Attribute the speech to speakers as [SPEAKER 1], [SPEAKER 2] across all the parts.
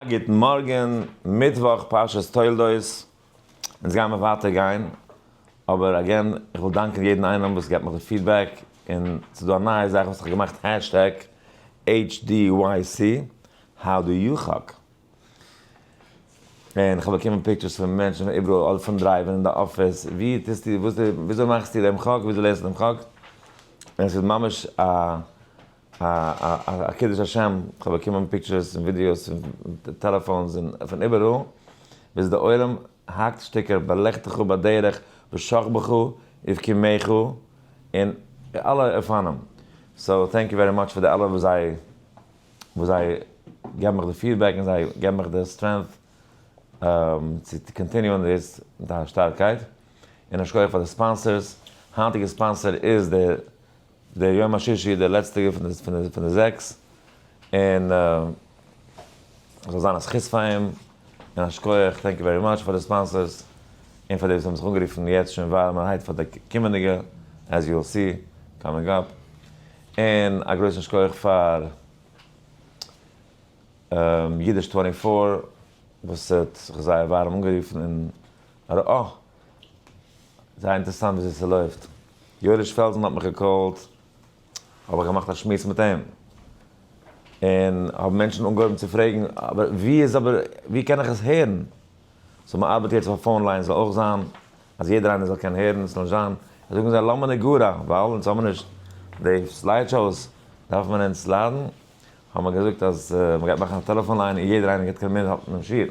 [SPEAKER 1] גוטן מארגען, מיטוואך פרשת תולדות, אונז גייען מיר ווייטער גיין, אבער אגעין איך וויל דאנקען יעדן איינעם וואס געבט מיך די פידבעק, און ס'איז דא א נייע זאך וואס איך האב געמאכט העשטעג HDYC How do you hug? און איך האב באקומען פיקטשערס פון מענטשן פון איבעראל אדער פון דרייווען און די אפיס, ווי טוסטו וואס די וויאזוי מאכסטו דעם חאג וויאזוי לערנסטו דעם חאג, און עס איז ממש א א קידוש השם, כ'האב באקומען פיקטשערס און ווידיאוס און טעלעפאונס און פון איבעראל, ביז די עולם האקט שטיקער בלכתך בדרך ושכבך ובקימך אין אלע אופנים, סאו טענק יו ווערי מאטש פאר די אלע וואס זיי וואס זיי געבן מיך די פידבעק און זיי געבן מיך די סטרענט צו קאנטיניוען דאס מיט א שטארקייט, און א שכח פאר די ספאנסערס, היינטיגע ספאנסער איז די. דער יום השישי איז דער לעצטיגער פון די זעקס, און זאל זיין א זכות פאר אים, און א שכוח, טענק יו ווערי מאטש פאר די ספאנסערס, און פאר די וואס האבן זיך אנגערופן יעצט שוין ווארעמערהייט פאר די קומענדיגע, עז יו וויל סי, קאמינג אפ, און א גרויסן שכוח פאר אידיש טווענטי פאר וואס האט זיך זייער ווארעם אנגערופן און ארא. זייער אינטערעסאנט וויאזוי ס'לויפט. יואליש פעלזן האט מיך געקאלט, האב איך געמאכט א שמועס מיט אים, און האבן מענטשן אנגעהויבן צו פרעגן, אבער ווי איז אבער ווי קען איך עס הערן? סאו מען ארבעט יעצט אויף א פאון ליין ס'זאל אויך זיין אז יעדער איינער זאל קענען הערן, ס'זאל נישט זיין אז זאגן זיי למה נגרע, ווייל אונז האבן נישט די סלייד שאוס דארף מען אונז סליידן, האבן מיר געזאגט אז מען גייט מאכן א טעלעפאן ליין און יעדער איינער גייט קענען מיטהאלטן דעם שיעור.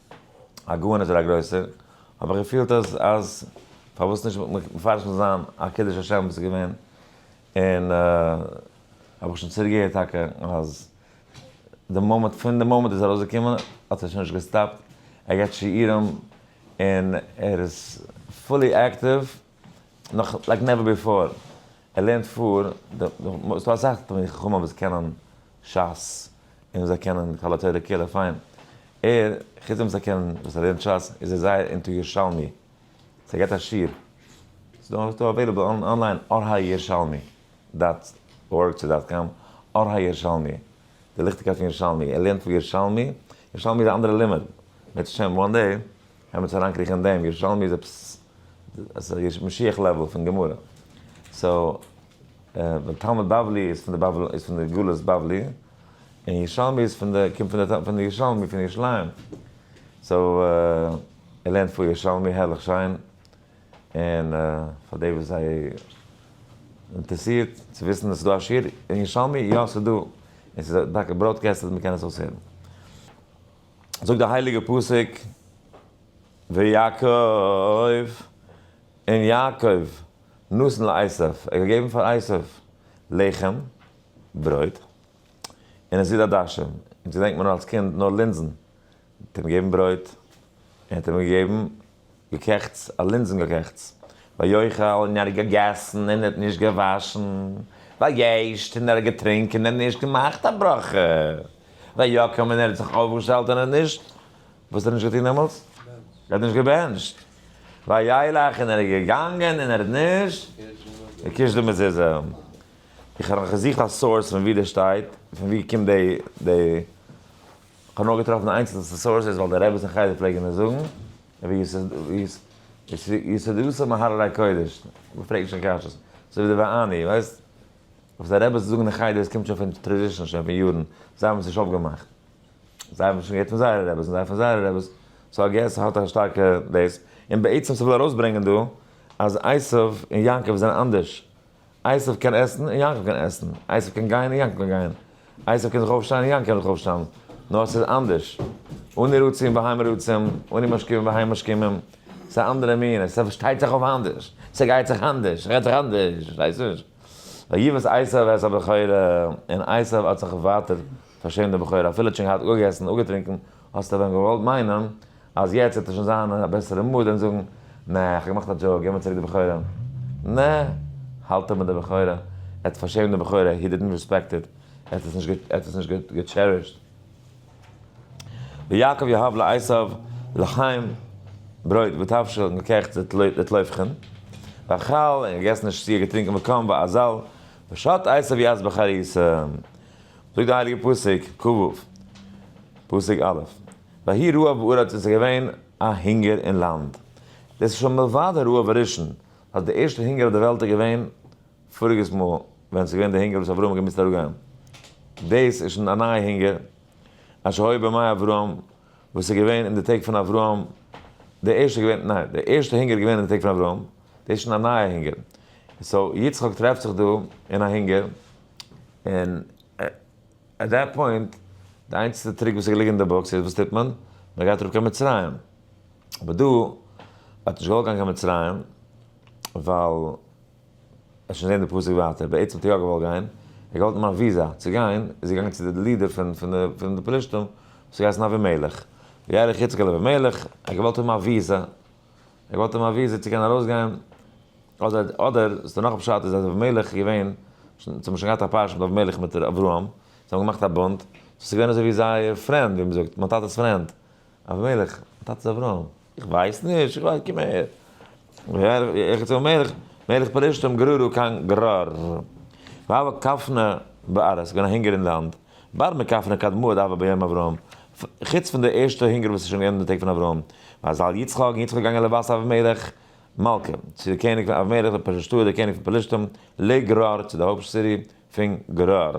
[SPEAKER 1] א גאון אדער א גרויסער, האב איך געפילט אז אז פארוואס נישט מפרש זיך זיין א קידוש השם וואס איז געווען, און האב איך שוין צוריק געהערט טאקע אז די מאמענט פון די מאמענט איז ארויסגעקומען האט ער שוין נישט געסטאפט, ער געבט שיעורים און ער איז פולי אקטיוו. נאך לייק נעווער ביפאר, ער לערנט פאר, ס'דא אסאך תלמידי חכמים וואס קענען שס, און זיי קענען כל התורה כולה פיין, ער, חוץ דעם וואס ער קען, וואס ער לערנט שס, איז ער זייער אינטו ירושלמי, סאו ער געבט א שיעור, ס'דא אוועילעבל אנליין אור הירושלמי דאט ארג צו דאט קאם, אור הירושלמי, די ליכטיגקייט פון ירושלמי, ער לערנט פאר ירושלמי, ירושלמי איז א אנדערע לימוד, בעזהשי ת וואן דעי. עמעץ אריינקריכן אין דעם, ירושלמי איז עפעס עס איז משיח לעוועל פון גמרא, סאו די תלמוד בבלי איז פון די בבל איז פון די גלות בבלי, און ירושלמי איז פון די קומט פון די ירושלמי פון ירושלים, סאו ער לערנט פאר ירושלמי הערליך שיין, און פאר די וואס זיי אינטערסירט צו וויסן עס איז דא א שיעור אין ירושלמי, יא ס'איז דא, און ס'איז טאקע בראודקעסטעד מ'קען עס אויסהערן. זאגט די הייליגע פסוק ויעקב און יעקב נתן לעשו, ער האט געגעבן פאר עשו לחם, ברויט, און עס איז עדשים, אונז געדענקט מען נאר אלס קינד נאר לינזן, ער האט אים געגעבן ברויט, ער האט אים געגעבן. געקעכטס, אַ לינדזן-געקעכטס. ויחל, און ער האָט געגעסן, און ער האָט נישט געוואַשן. וישת, און ער האָט געטרונקען, און ער האָט נישט געמאַכט אַ ברכה. ויקום, און ער האָט זיך אויפגעשטעלט, און ער האָט נישט, וואָס האָט ער נישט געטאָן דעמאָלט? ער האָט נישט געבענטשט. וילך, און ער איז געגאַנגען, און ער האָט נישט געקושט די מזוזה. איך האָב נאָך געזוכט אַ סאָרס פון וואו דאָס שטייט, פון וואו קומט די. כ'האב נאר געטראפן איינצעלסטע סאורסעס ווייל די רעבעס אין חדר פלעגן עס זאגן, ויסודותיו מהררי קודש, מען פרעגט שוין קשיות, אזוי ווי די ואני, ווייסט, וואס די רעבעס זאגן אין חדר עס קומט שוין פון טרעדישן שוין פון יארן, זיי האבן עס נישט אויפגעמאכט, זיי האבן עס שוין געהערט פון זייערע רעבעס און זיי פון זייערע רעבעס, סאו איי געס ס'האט א שטארקע דעיס, און בעצם ס'וויל ארויסברענגען דא אז עשיו און יעקב זענען אנדערש. אייסעף קען עסן און יענקל קען עסן, אייסעף קען גיין און יענקל קען גיין, אייסעף קען זיך אויפשטיין און יענקל קען זיך אויפשטיין, נאר עס איז אנדערש, אני רצה און בהמה רצים, אני משכים און בהמה משכימים, עס איז א אנדערע מין, עס פארשטייט זיך אויף אנדערש, עס גייט זיך אנדערש, עס רעדט זיך אנדערש, פארשטייסט נישט? ויבאס עשיו את הבכורה, און עשיו האט זיך ווייטער פארשעמט די בכורה, אפילו ער האט שוין געהאט אפגעגעסן און אפגעטרינקען, האסט ווען געוואלט מיינען אז יעצט וועט ער שוין זיין אין א בעסערע מוד און זאגן, נע, איך האב געמאכט א דזשאוק, געב מיר צוריק די בחורה. נע, האלט ער מיט די בחורה, ער האט פארשעמט די בחורה, הי דידנט ריספעקט איט, ער האט עס נישט געטשערישט. ויעקב יהב לעשו לחם, ברויט, ותבשיל, און געקעכט לתלפחין, ואכל, און געגעסן און שתיה, געטרינקען, וקם, ואזל, ושת עשו יעז בחריסה. זאגט די הייליגע פסוק ק ו פסוק א' ויהי רעב בארץ און ס'איז געווען א הונגער אין לאנד, דאס איז שוין מלבד הרעב הראשון, אז די ערשטע הונגער אויף די וועלט איז געווען פאריגעס מאל ווען ס'איז געווען די הונגער וואס אברהם האט געמוזט אראפגיין, דאס איז שוין א נייע הונגער א שהי' בימי אברהם וואס איז געווען אין די טעג פון אברהם, די ערשטע געווען ניין די ערשטע הונגער איז געווען אין די טעג פון אברהם, דאס איז שוין א נייע הונגער, סאו יצחק טרעפט זיך דא אין א הונגער. און עט דעט פוינט די איינציגסטע טריק וואס איז געליגן אין די בוקס איז וואס טוט מען? מען גייט אראפ קיין מצרים. אבער דא האט נישט געוואלט גיין קיין מצרים ווייל ער שוין זעהן די פסוק ווייטער בעצם האט ער יא געוואלט גיין ער געוואלט נעמען א וויזא צו גיין איז ער געגאנגען צו די לידער פון פון די פלשתים וואס האט געהייסן אבימלך וילך יצחק אל אבימלך ער האט געוואלט האבן א וויזא ער געבט אים א וויזע צו קענען ארויסגיין, אדער אדער איז דער נאך א פשט איז אז אבימלך איז געווען, זיי האבן שוין געהאט א פרשה מיט אבימלך מיט ר' אברהם, זיי האבן געמאכט א בונד, סאו ס'איז געווען אזוי ווי זייער פרענד, ווי מ'זאגט, מיין טאטע'ס פרענד, אבימלך, מיין טאטע איז אברהם, איך ווייס נישט, איך ווייס, קום אהער, איך צו אבימלך, מלך פלשתים גררו קיין גרר, והוה קפנה בארץ, ס'איז געווען א הונגער אין לאנד. באר מקף נקד מאד אבה ביום אברהם, חוץ פון די ערשטע הונגער וואס איז שוין געווען אין די טעג פון אברהם, מזל יצחק, און יצחק איז געגאנגען לבת אבימלך מלכה, צו די קעניג פון אבימלך דער פרשתוה דער קעניג פון פלשתים, לגרר צו די הויפט סיטי פון גרר,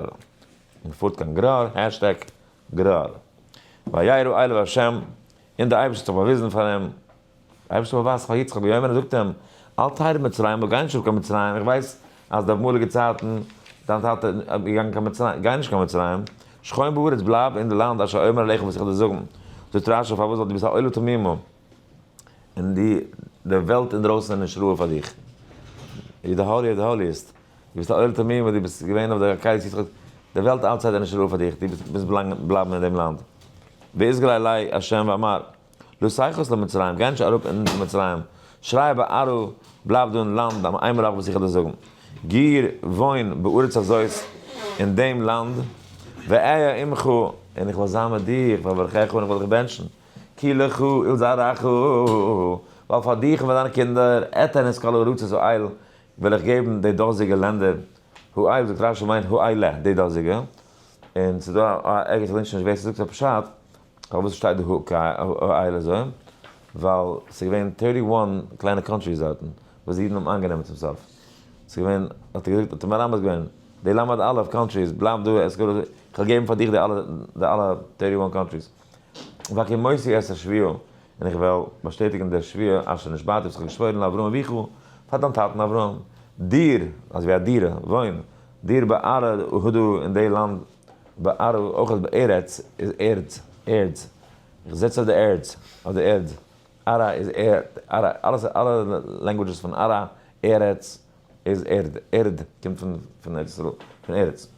[SPEAKER 1] מען פארט קיין גרר, העשטעג גרר, וירא אליו השם, און דער אייבערשטער האט זיך באוויזן פאר אים, דער אייבערשטער זאל ווייזן פאר יצחק ביום מן הדין און זאגט אים, אל תרד מצרים, דו גיי נישט אראפ קיין מצרים, איך ווייס אז די אמאליגע צייטן דיין טאטע איז געגאנגען קיין מצרים, גיי נישט קיין מצרים, שכון בארץ, בלייב אין די לאנד אשר אומר אליך וואס איך וועל דיר זאגן, זאגט דער רשע פארוואס ווייל דו ביסט א עולה תמימה און די די וועלט אינדרויסן איז נישט ראוי פאר דיך, ווי די האלי האט האליעסט, דו ביסט א עולה תמימה, דו ביסט געווען אויף די עקידת יצחק, די וועלט אלץ צייט איז נישט ראוי פאר דיך, דו מוזט בלייבן אין דעם לאנד, ואזכר אלי ה' ואמר. לא שייכות למצרים, גיי נישט אראפ אין מצרים, שריי ביי ארו, בלייב דא אין לאנד, א איין מלאך וועט זיכער דאס זאגן, גיר, וואוין, בארץ הזאת, אין דעם לאנד, ואהיה עמך, און איך וועל זיין מיט דיר, ואברכך, און איך וועל דיך בענטשן, כי לך ולזרעך, ווייל פאר דיך און פאר דיינע קינדער, אתן את כל ארצות הואיל, וועל איך געבן די דאזיגע לענדער, הואיל זאגט רשי מיינט הואיל ל, די דאזיגע, און ס'דא ערגעץ איך דענק שוין נישט ווער ס'זאגט עס פשט, פארוואס שטייט דא הא קארעא אייל אזוי? ווייל ס'איז געווען טערטי וואן קליינע קאנטריס דארטן וואס די אידן האבן איינגענומען צום סוף. ס'איז געווען, האט ער געזאגט, האט אים מרמז געווען, די למד א' קאנטריס בלייב דא, עס גאר אזוי, כ'וועל געבן פאר דיך די אלע די אלע טערטי וואן קאנטריס, ואקום מוסר את השביה, און איך וועל באשטעטיגן די שביה אשר נשבעתי וואס כ'האב געשוואוירן לאברהם אביך, פאר דיין טאטן אברהם, דיר, אזווי א דירה, וואוין, דיר בארעא הודו אין די לאנד, באר אויך אז בארץ איז ערד, ערד, איך זעץ אויף די ערד, אויף די ערד, ארה איז ערד, ארה, אלעס, אלע לענגווידזשעס פון ארה, ארץ, איז ערד, ערד קומט פון פון ארץ ישראל, פון ארץ.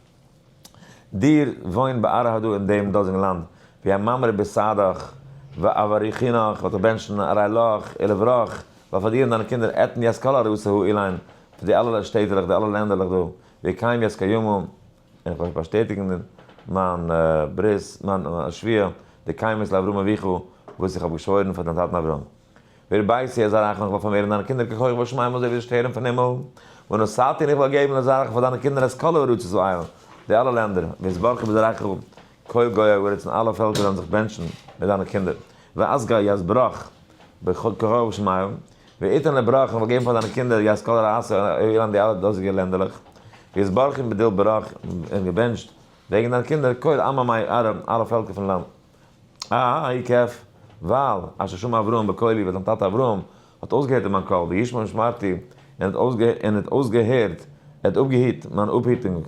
[SPEAKER 1] דיר וואוין באר אהא דא אין דעם דאזיגן לאנד, ווי א מאמרי ביסדך ואבריכינך וואלט איך בענטשן אריי לאך אי לברוך, ווייל פאר דיר און דיינע קינדער עתן יזכה לארץ ההוא אילן, פון די אלע שטעטעלעך, די אלע לענדערלעך דא, ווי קיים יזכה יומם, און איך וועל באשטעטיגן מיין ברית, מיין שוויה, די קיימות לאברהם אביך וואס איך האב געשוואוירן פאר דיין טאטן אברהם. ווער בית ה' זרעך און איך וועל פארמערן דיינע קינדער ככוכב השמים אזוי ווי די שטערן פון הימל, ונשאתי און איך וועל געבן לזרעך פאר דיינע קינדער את כל הארצות ואייל, די אלע לענדער, ויתברכו בזרעך כל גויי הארץ און אלע פעלקער וועלן זיך בענטשן מיט דיינע קינדער, ואזכה יתברך בכוכב השמים, ואתן לברך, איך וועל געבן פאר דיינע קינדער יז כל רעה עשה אילן די אלע דאזיגע לענדעלעך, ויזברכם בדיל ברך, און געבענטשט וועגן דיינע קינדער כל עמא מאי ארא, אלע פעלקער פון לאנד. א י כ, ווייל אשר שמע אברהם בקולי, ווייל זיין טאטע אברהם האט אויסגעהערט אין מיין קול, וישמע משמרתי, און ער האט אויסגעהערט, ער האט אפגעהיט מיין אפהיטונג.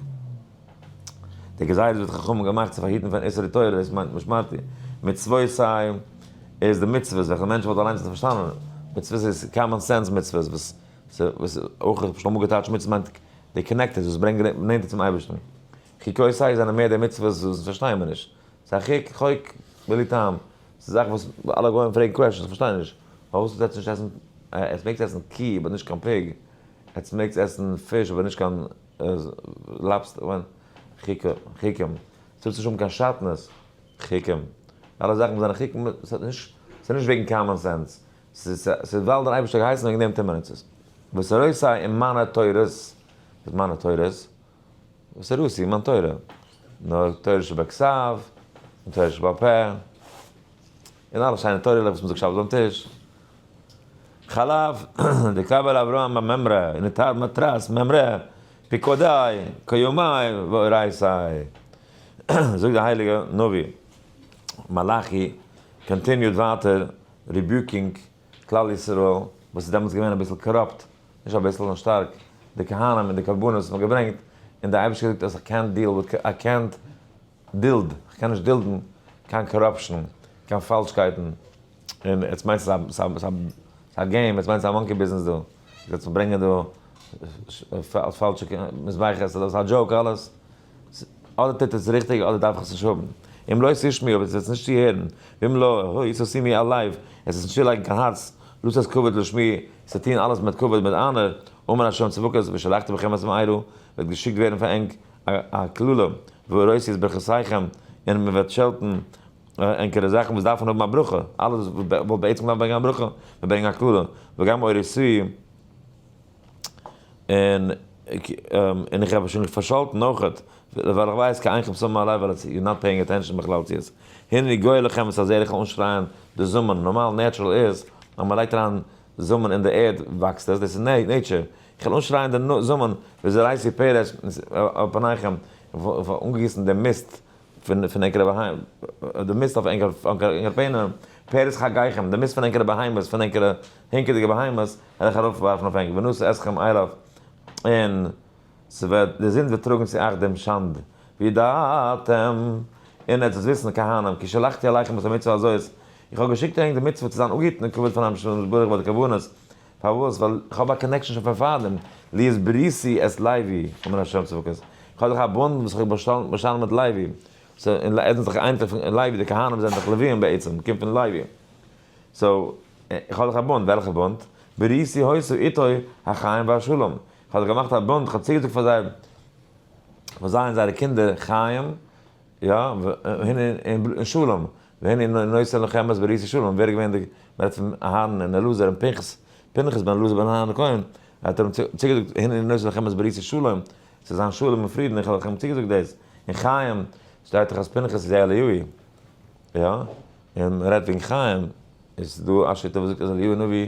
[SPEAKER 1] די גזירות וואס די חכמים האבן געמאכט צו פארהיטן פון איסורי תורה איז מיינט משמרתי מצוות סיי איז די מצוות וועלכע מענטשן וואלט אליינס נישט פארשטאנען מצוות איז קאמאן סענס מצוות וואס וואס אויך האב שוין אמאל געטייטשט מצוות מיינט די קאנעקטעד וואס ברענגט נענטער צום אייבערשטן חוקי סיי זענען מער די מצוות וואס פארשטייען מיר נישט ס'איז א חוק חוק בלי טעם ס'איז זאכן וואס אלע גוים פרעגן קוועשאנס כ'פארשטיי נישט פארוואס זאלסטו עסן עטס מעגטס עסן קי אבער נישט קיין פיג עטס מעגטס עסן פיש אבער נישט קיין לאפסטער וויין, חיקם, ס'טוט נישט האבן קיין שאטנעס, חיקם, אלע זאכן וואס זענען חיקם, ס'האט נישט, ס'איז נישט וועגן קאמאן סענס, ס'איז ווייל דער אייבערשטער האט געהייסן וועגן דעם טוט מען עס, וואס ער עושה אין מיינע תורות, וואס מיינע תורות? וואס ער עושה אין מיין תורה? נו, תורה שבכסף, און תורה שבעל פה. און אלע שיינע תורה'לעך וואס מ'זאגט שבת ביים טיש. חלב, די קבר אברהם ביי ממרא, און די טייל מאטראס, ממרא, פיקודיי, כיומאי, ואורייתאי. זאגט די הייליגע נביא מלאכי, קאנטיניוד ווייטער ריביוקינג כלל ישראל, וואס איז דעמאלטס געווען אביסל קאראפט, נישט אביסל נאר שטארק, די כהנים און די קרבנות וואס מ'האט געברענגט, און די אייבערשטער האט געזאגט אז איך קענט דיעל וויט, איי קענט. דילד, איך קען נישט דילדן קיין קאראפשן, קיין פאלשקייטן, און עטס מיינסט עס איז א געים, עטס מיינסט עס איז א מאנקי ביזנעס דא, עטס ברענגען דא פאלשע מזבחות, איז דאס א דזשאוק אלעס? אדער טוט עס ריכטיג אדער דארף איך עס נישט האבן, אם לא תשמעו אויב עטס וועטס נישט צוהערן, ואם לא הוי סאו סי מי אלייוו, עס איז נישט צולייגן קיין הארץ, לאז עס כבוד לשמי, עס איז טון אלעס מיט כבוד מיט אנער, אמן השם צבקות ושלחתי בכם את מעי', וועט געשיקט ווערן פאר ענק א קללה וואו ארויס איז ברכותיכם און מען וועט שעלטן ענקערע זאכן וואס דארפן האבן א ברכה, אלעס וואס וואלט בעצם געדארפט ברענגען א ברכה וועט ברענגען א קללה, וגם אור איסור און און איך האב שוין פארשאלטן אויכעט ווייל איך ווייס קיין איינכם סומען עליי ווייל איטס יור נאט פעיאינג עטענשאן בכלל צו עס הנני גואל לכם איז אזער איך וועל אנשרייען די זומען נארמאל נעטשרעל איז אז מען לייגט אריין זאמען אין די ערד וואקסט עס, דאס איז נעיטשער, איך וועל אנשרייען די זאמען ווי זרעיסי פרץ על פניכם, איך וועל אנגיסן די מיסט פון ענקערע בהמות, די מיסט אויף ענקערע פענער, פרץ חגיכם, די מיסט פון ענקערע בהמות, פון ענקערע הינקעדיגע בהמות, וועל איך ארויפווארפן אויף ענק, ונשא אתכם אליו, און. ס'וועט, די זינד וועט טראָגן צו אייך דעם שאַנד, וידעתם, און עטס וועט וויסן, כהנים, כי שלחתי אליכם את המצוה הזאת, איך האָב געשיקט אייך די מצוה צו זיין אָנגעהיטן און כבוד פאַר דעם אמשל און נתברך ביי די קרבנות, פאַרוואָס? ווייל איך האָב אַ קאָנעקשאָן שוין פון פאַרדעם, לי איז בריתי את לוי, אומר השם צבקות, איך האָב דאָך אַ בונד וואָס איך האָב באַשטאַנען באַשאַנען מיט לוי, סאָ, און לוי, עטס זענט דאָך אייניקלעך פון לוי, די כהנים זענען דאָך לוויים בעצם, קומט פון לוי, סאָ, איך האָב דאָך אַ בונד, וועלכער בונד? בריתי העושה איתו החיים והשלום, כ'האב זיך געמאכט א בונד, כ'האב צוגעזאגט פאר זיי, פאר זיי און זייערע קינדער חיים, יא, והנה, און שלום, והנה און נושא לכם אז בריתי שלום, ווער איז געווען די, מ'רעדט פון אהרן און אלעזר און פנחס, פנחס בן אלעזר בן אהרן הכהן, ער האט אים צוגעזאגט, הנה און נושא לכם אז בריתי שלום, ס'זאל זיין שלום און פרידן, איך האב לכם צוגעזאגט דאס, און חיים, שטייט דאך אז פנחס איז אליהו, יא, און מ'רעדט וועגן חיים, איז דא א שיטה וואס זאגט אז אליהו נביא.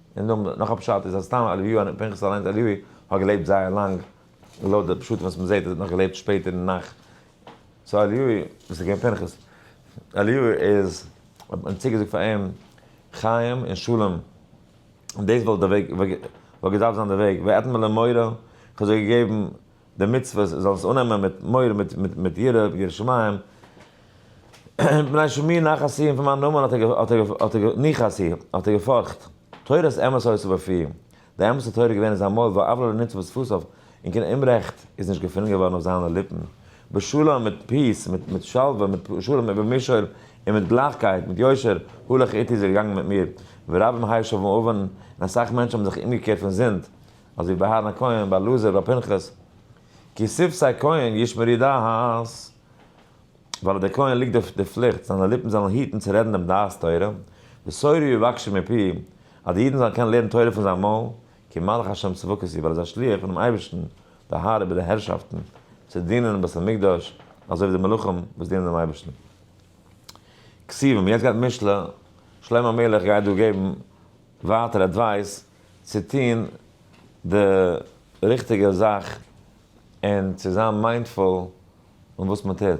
[SPEAKER 1] און נאך א פשט איז אז סתם אליהו הנביא פנחס אליינס אליהו האט געלעבט זייער לאנג לויט די פשטים וואס מ'זעט ער האט נאך געלעבט שפעטער אין נאכט סאו אליהו וואס איז געווען פנחס אליהו איז האט מען צוגעזאגט פאר אים חיים און שלום און דאס וואלט די וועג וואלט געדארפט זיין די וועג ואתן למורא כ'האב זיי געגעבן די מצוות, זאלן עס אננעמען מיט מורא, מיט יראה, מיט יראת שמים, מפני שמי נחת סי' און פון מיין נאמען האט ער, ניחא סי', האט ער געפארכט, תורת אמת הוסיף בפיו, די אמת'ע תורה איז געווען אין זיין מויל, ועוולה לא נמצא בשפתיו, און קיין אומרעכט איז נישט געפונען געווארן אויף זיינע ליפן, בשלום, מיט פיס, מיט שלווה, מיט שלום איבער מישור, און מיט גלייכקייט, מיט יושר, הלך איתי, איז ער געגאנגען מיט מיר, ורבים הישבו ובאו, און אסאך מענטשן האבן זיך אומגעקערט פון זינד, אז ווי ביי אהרן הכהן, ביי אלעזר, ביי פנחס, כי ספסי כהן ישמר ידו הס, ווייל אויף די כהן ליגט די די פליכט זיינע ליפן זאלן היטן צו רעדן דעם דעת תורה, וסורו יבקשו מפיו, אז די אידן זאלן קענען לערן תורה פון זיין מויל, כי מלך השם צבקות הוא, ווייל ער איז א שליח פונעם אייבערשטן, די האר איבער די הערשאפטן, צו דינען אין בית המקדש, אזוי ווי די מלאכים וואס דינען דעם אייבערשטן. כסיוון, יעצט גייט משלי, שלמה המלך גייט דא געבן ווייטער עדווייס, צו טון די ריכטיגע זאך און צו זיין מיינדפול און וואס מען טוט.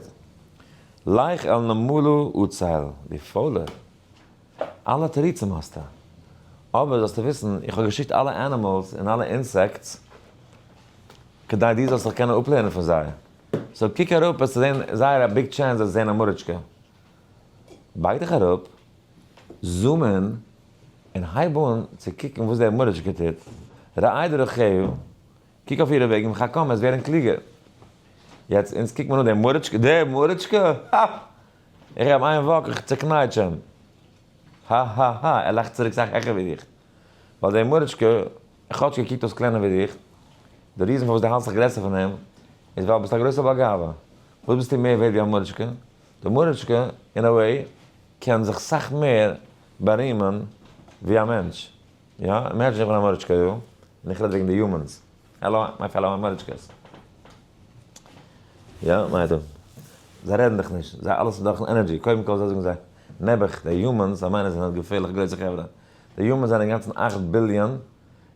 [SPEAKER 1] לך אל נמלא אוצל, דו פוילער. אלע תירוצים האסטו. אבער זאלסטו וויסן, איך האב געשיקט אלע ענימעלס און אלע אינסעקטס כדי דו זאלסט זיך קענען אפלערנען פון זיי. סאו קוק אראפ וועסטו זען זייער א ביג טשענס אז זען א מאריטשקע. בייג דיך אראפ. זאמען, און הייב אן צו קוקן וואס דער מורישקע טוט, ראה את דרכיה, קוק אויף אירע וועגן, חכם, עסט ווערן קלוגער. יעצט, אונז קוקט מען אן דעם מורישקע, דער מורישקע? הא! איך געב איין וואק, איך צעקנייטש אים. הא הא הא, ער לאכט צוריק סאך העכער ווי דיך. ווייל דער מורישקע, כאטש ער קוקט אויס קלענער ווי דיך, די ריזן פארוואס דו האלטסט זיך גרעסער פון אים, איז ווייל ביסט א גרויסער בעל גאווה. וואס ביסטו מער ווערד ווי א מורישקע? די מוריטשקע, אין א וועי, קען זיך סאך מער בארימען ווי א מענטש. יא, אימעדזשין איך בין א מוריטשקע דא, און איך רעד וועגן די יומענס. העלא מיי פעלא מוריטשקעס. יא, מה איתו? זיי רעדן דיך נישט. זיי אלעס איז דורכ'ן ענערדזשי. קודם כל אזוי זאגן זיי. נעבעך, די יומענס, זיי מיינען זיי זענען געפערליך גרויסע חברה. די יומענס זענען אינגאנצן אַכט ביליאן,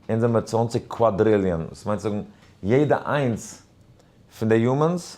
[SPEAKER 1] אונז זעמער צוואַנציק קוואדריליאן. דאס מיינט צו זאגן, יעדע איינס פון די יומענס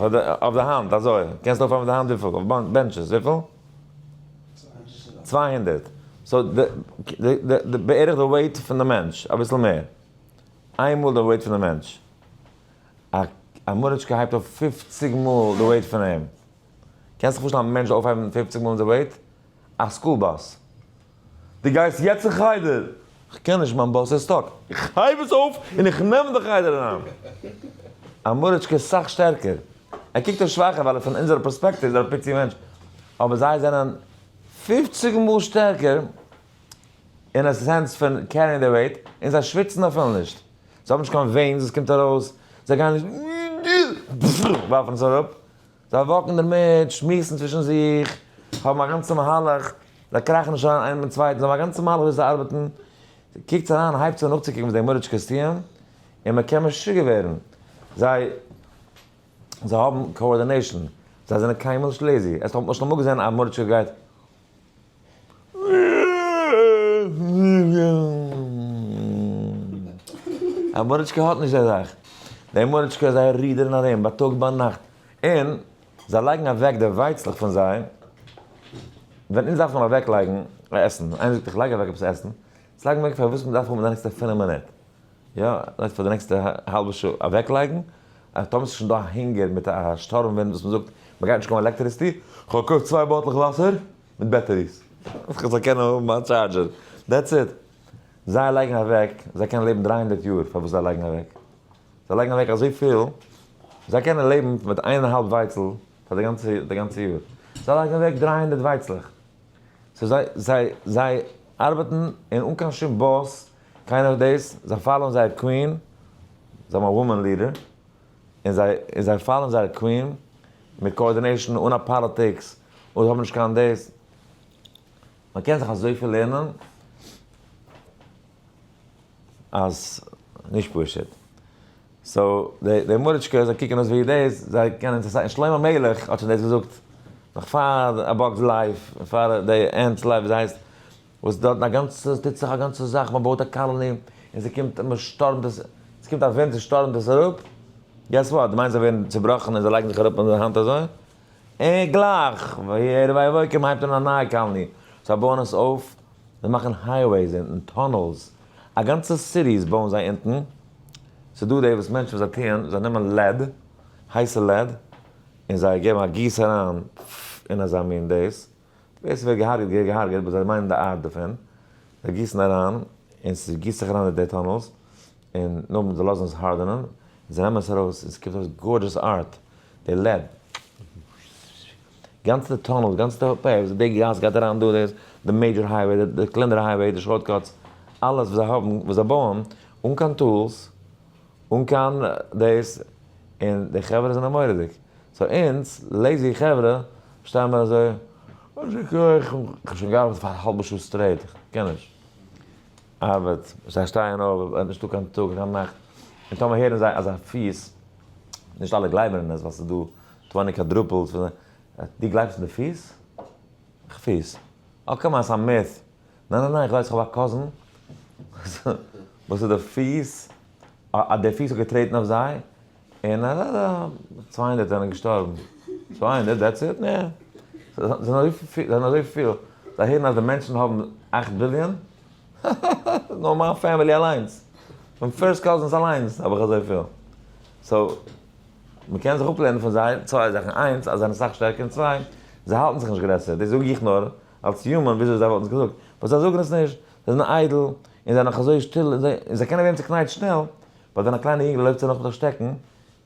[SPEAKER 1] אויף די האנט אזוי קענסט אויפהייבן מיט די האנט וויפיל אויף בענטשעס וויפיל? צוויי הונדערט סאו די בערך די וועיט פון די מענטש אביסל מער איין מאל די וועיט פון די מענטש א מאריטשקע הייבט אויף פופציג מאל די וועיט פון אים קענסט זיך פארשטעלן א מענטש אויפהייבן פופציג מאל די וועיט? א סקול באס. דו גייסט יעצט אין חדר? כ'קען נישט, מיין באס איז סטאק. איך הייב עס אויף און איך נעם די חדר אריין. א מוריטשקע איז סאך שטערקער. ער קוקט אויס שוואכער ווייל פון אונזערע פערספעקטיוו איז ער א פיצי מענטש. אבער זיי זענען פופציג מאל שטערקער אין א סענס פון קעריען די וועיט. און זיי שוויצן אפילו נישט. זיי האבן נישט קיין וועינס וואס קומט ארויס. זיי גייען נישט ווארפן עס אראפ. זיי וואקן דערמיט, שמועסן צווישן זיך, האבן א גאנצע מהלך, זיי קראכן נישט אריין איינער מיטן צווייטן, זיי האבן א גאנצע מהלך וויאזוי זיי ארבעטן, קוקטס אריין, הייבטס אן נאכצוקוקן וואס די גמרא'טשקעס טוען, און מען קען משוגע ווערן, זיי זיי האבן קאארדינעישאן, זיי זענען קיינמאל נישט לעזי, האסט אמאל געזען א גמרא'טשקע גייט. א מארעטשקע האט נישט די זאך. די מארעטשקע זיי רודערן ארום בייטאג ביינאכט. און זיי לייגן אוועק די ווייצלעך פון זיי. ווען אונז דארף מען אוועק לייגן עסן. איינער זאגט איך לייג אוועק עפעס עסן. זאג מיר פארוואס מען דארף האבן די נעקסטע פֿינף מינוט. יא, לייגסט פאר די נעקסטע האלבע שעה אוועקלייגן, אז טאמער ס'שוין דא א הונגער מיט א שטורם ווינט וואס מ'זאגט מ'גייט נישט קויפן עלעקטעריסטי, כ'האב געקויפט צוויי באטלעך וואסער מיט בעטעריס, אז כ'זאל קענען האבן מיין טשארדזשער, דעטס איט. זיי לייגן אוועק, זיי קענען לעבן דרײַ הונדערט יאר פארוואס זיי לייגן אוועק? זיי לייגן אוועק אזויפיל, זיי קענען לעבן מיט איין און א האלב ווייצל פאר די גאנצע די גאנצע יאר, זיי לייגן אוועק דרײַ הונדערט ווייצלעך, סאו זיי זיי זיי ארבעטן און אן קיין שום באס. קיינער האט דאס? זיי פאלאוען זייער קווין, זיי האבן א וואמען לידער, און זיי און זיי פאלאוען זייער קווין מיט קאארדינעישאן אן א פאליטיקס, און זיי האבן נישט קיין דאס. מען קען זיך אזויפיל לערנען אז נישט פשוט. סאו די די מוריטשקעס זיי קוקן אויס ווי דאס, זיי קענען אינטערעסאנט און שלמה המלך האט שוין דאס געזאגט נאך פאר א באגס לייף און פאר די ענט'ס לייף ווי זי הייסט, וואס דארטן א גאנצע ס'איז טוט זיך א גאנצע זאך מען בויט א קאלעני און ס'קומט מען שטורעמט עס ס'קומט א ווינט ס'שטורעמט עס אראפ געס וואט די מיינסט זיי ווערן צובראכן און זיי לייגן זיך אראפ אן די האנט אזוי און גלייך ויהי ערב ויהי בוקר מען הייבט אן א נייע קאלעני זיי בויען עס אויף זיי מאכן הייוועיס אונטן טונעלס א גאנצע סיטיס בויען זיי אונטן ס'דא די וואס מענטשן וואס זיי טוען זיי נעמען לעד הייסע לעד און זיי געבן א גיס אריין אין אזא מין דעיס. ווער ס'ווערט געהארגעט געהער געהארגעט באט זיי מיינען די ארט דערפון, זיי גיסן אריין און ס'גיסט זיך אריין די די טאנעלס און נאכדעם זיי לאזן עס הארדענען און זיי נעמען עס ארויס און ס'קומט ארויס גארדזשעס ארט, די לעב. גאנצע די טאנעלס די גאנצע די די גאס גייט אריין דא דאס די מעידזשער הייוועי די קלענערע הייוועי די שארט קאטס אלעס וואס זיי האבן וואס זיי בויען אן קיין טולס, אן קיין דאס, און די חברה זענען מורא'דיג, סאו אונז לעיזי חברה שטייען מיר אזוי, יישר כח, איך האב שוין געארבעט פאר א האלבע שעה סטרעיט, איך קען נישט ארבעט, זיי שטייען אויף, עס איז נישטא קיין טאג קיין נאכט, און טאמער הערן זיי אז א פיס, נישט אלע גלייבן אין עס ווייל ס'איז דא טווענטי קוואדרופעלס, דו גלייבסט אין די פיס? איך פיס? אה קאם אן ס'איז א מיט. ניין ניין ניין איך ווייס איך האב א קאזין וואס איז די פיס אז די פיס האט געטרעטן אויף זיי און אז א צוויי הונדערט זענען געשטארבן צוויי הונדערט דעטס איט נע זענען אזויפיל זענען אזויפיל זיי הערן אז די מענטשן האבן אכט ביליאן האהאהא נאר מיין פעמילי אליינס מיין פירסט קאזינס אליינס האב איך אזויפיל סאו מ'קען זיך אפלערנען פון זיי צוויי זאכן איינס אז זיי זענען סאך שטערקער און צוויי זיי האלטן זיך נישט גרעסער דאס זאג איך נאר אלס יומען וויאזוי זיי וואלטן עס געזאגט, באט זיי זאגן עס נישט, זיי זענען איידל, און זיי נאך אזוי שטיל, און זיי קענען ווערן צוקנייטשט שנעל, באט ווען א קליינע יונגעלע לויפט זיי נאך מיט א שטעקן,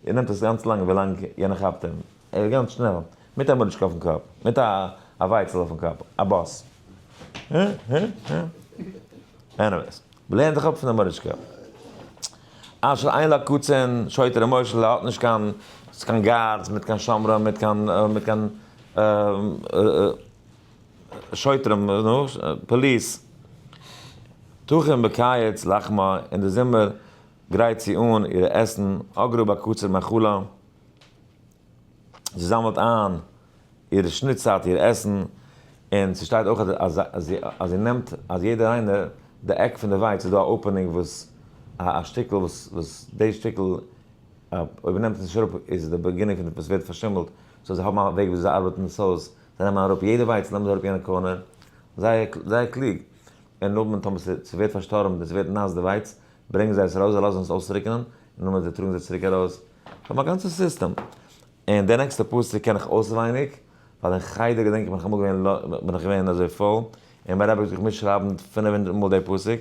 [SPEAKER 1] און נעמט עס גאנץ לאנג ווילאנג יענער כאפט אים, ער איז גאנץ שנעל, מיט א מאריטשקע אויפן קאפ, מיט א ווייצל אויפן קאפ, א באס. הא הא הא. עניוועיס, לערן דיך אפ פון די מאריטשקע. אשר אין לו קצין, שוטה ר' משה ל האט נישט קיין קיין גארדס, מיט קיין שומרים, מיט קיין מיט קיין. שוטרים, פאליס, תחום בקיץ לחמה, און די זומער גרייט זי אן אירע עסן, אגרא בקוצר מחלה, זי זאמלט איין איר שניטצייט איר עסן, און ס'שטייט אויך אז זי נעמט אז יעדער איינער די עק פון די ווייץ איז דא א אפענונג וואס א שטיקל וואס די שטיקל אויב מ'נעמט עס נישט אראפ איז די באגינונג פון וואס ווערט פארשימלט, סאו זיי האבן א וועג וויאזוי זיי ארבעטן עס אויס, זיי נעמען אראפ יעדע ווייץ נעמען זיי אראפ יענע קארנער, זייער זייער קלוג, און נאכדעם טאמער ס'איז ס'ווערט פארשטארבן און ס'ווערט נאס די ווייץ, ברענגען זיי עס ארויס זיי לאזן עס אויסטריקענען, און נאכדעם זיי טראגן זיי צוריק ארויס, זיי האבן א גאנצע סיסטעם. און די נעקסטע פסוק קען איך אויסעווייניג, ווייל אין חדר געדענק איך בין איך אמאל געווען בין איך געווען אזוי פויל, און מיין רבי האט געזאגט מיטשרייבן פינף הונדערט מאל די פסוק,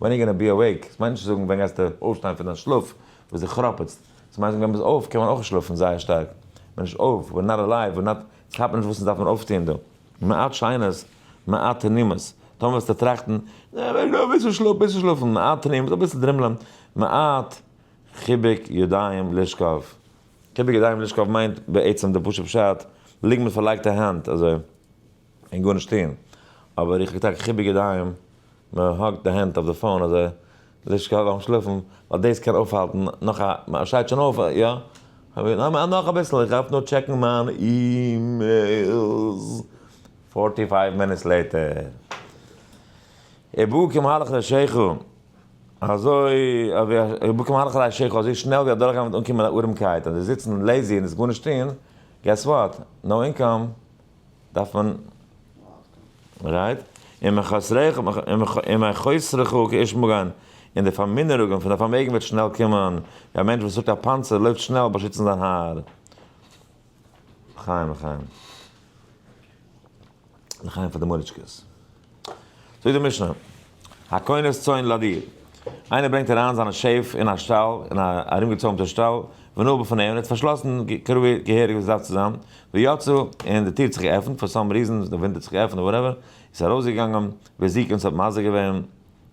[SPEAKER 1] ווען יו גאנא בי אוועיק, ס'מיינט נישט צו זאגן ווען גייסטו אויפשטיין פון דיין שלאף, וואס דו כראפעטסט, ס'מיינט ווען ביסט אויף, קען מען אויך שלאפן זייער שטארק, מען נישט אויף, ווער נאט אלייוו, ווער נאט, ס'כאפט מען נישט וואס עס דארף מען אויפטוהן דא, מעט שיינערס, מעט תענימות, טאמער וועסטו טראכטן, אה, מען קען אביסל שלאפן, ביסל שלאפן, מעט תענימות, אביסל דרימלען, מעט חיבוק ידיים לשכב, חיבוק ידיים לשכב מיינט בעצם די פשוט פשט, ליגן מיט פארלייגטע הענט, אזוי. און גארנישט טוהן, אבער איך האב געטאקע חיבוק ידיים, מען האקט די הענט אויף די פאון אזוי, זיך קאלען אויפן שלאפן, ווייל דאס קען אויפהאלטן נאך א, מען שטייט שוין אויף, יא? נאך אביסל, איך דארף נאר טשעקן מיין אימעילס, פארטי פייוו מינוטס לעיטער, איבער כמהלך רישיכו, אזוי אווי א, איבער כמהלך רישיכו, אזוי שנעל ווי אדורכגיין וועט אנקומען ארעמקייט, אז זיצן לעזי און עס גארנישט טוהן, געס וואט? נאו אינקאם, דארף מען רייט און מיין חסריך און מיין חסריך כאיש מגן, און די פארמינערונגען פון די פארמעגן וועט שנעל קומען, ווי א מענטש וואס טראגט א פאנצער לויפט שנעל באשיצן זיין האר. לחיים לחיים. לחיים פאר די מוריטשקעס. זאגט די משנה, הקונת צאן לדיר, איינער ברענגט אריין זיינע שעף אין א שטאל, אין א ארומגעצוימטע שטאל, ונעול בפניהם, און ער האט פארשלאסן כראוי געהעריג ווי עס דארף צו זיין, ויצא, און די טיר האט זיך געעפנט, פאר סאם ריזען, די ווינט האט זיך געעפנט, וואטעווער, ער איז ארויסגעגאנגען, וזיקין, ס'האט מזיק געווען,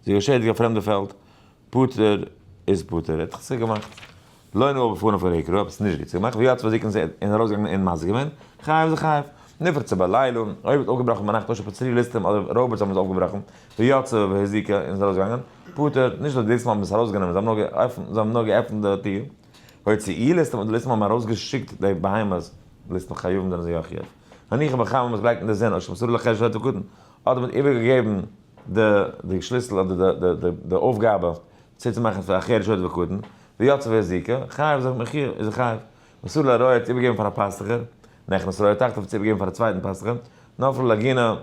[SPEAKER 1] זיך געשעדיגט א פרעמדע פעלד, פטור איז פטור, ער האט דאך צו געמאכט לא נאה בפניו פון עיקרו, עפעס נישט גוט צו געמאכט, ווי האט צו בדיקן זיי און ארויס געגאנגען און מזיק געווען, חייב איז חייב, נפרצה בלילה, אויב האט אויפגעבראכן ביינאכט טוישט אפ צורי ליסטים אדער ראובערטס האבן עס אויפגעבראכן, ויצא והזיק און איז ארויס געגאנגען, פטור, נישט אז די ליסטים האבן עס ארויס גענומען, זיי האבן נאר געעפנט די טיר, הוציא ליסטים אדער די ליסטים האבן ארויס געשיקט די בהמות, ליסטים חיובים זענען זיי אויך חייב, הניחא בכמה מען האט עס געלייגט אין די זון, אויב שמסרו לחשב שהיה תקוטן, אדער מען האט איבער געגעבן. די שליסל אדער די אויפגאבע צו צו מאכן פאר אחרת שוד וקטן, ויצא ווער זיכא, חייב זיך מחי' איז ער חייב. מסור לרעה צו איבערגעבן פאר א פאסטוכער, נכנס רעה תחתיו צו איבערגעבן פאר א צווייטן פאסטוכער, נפל לגינה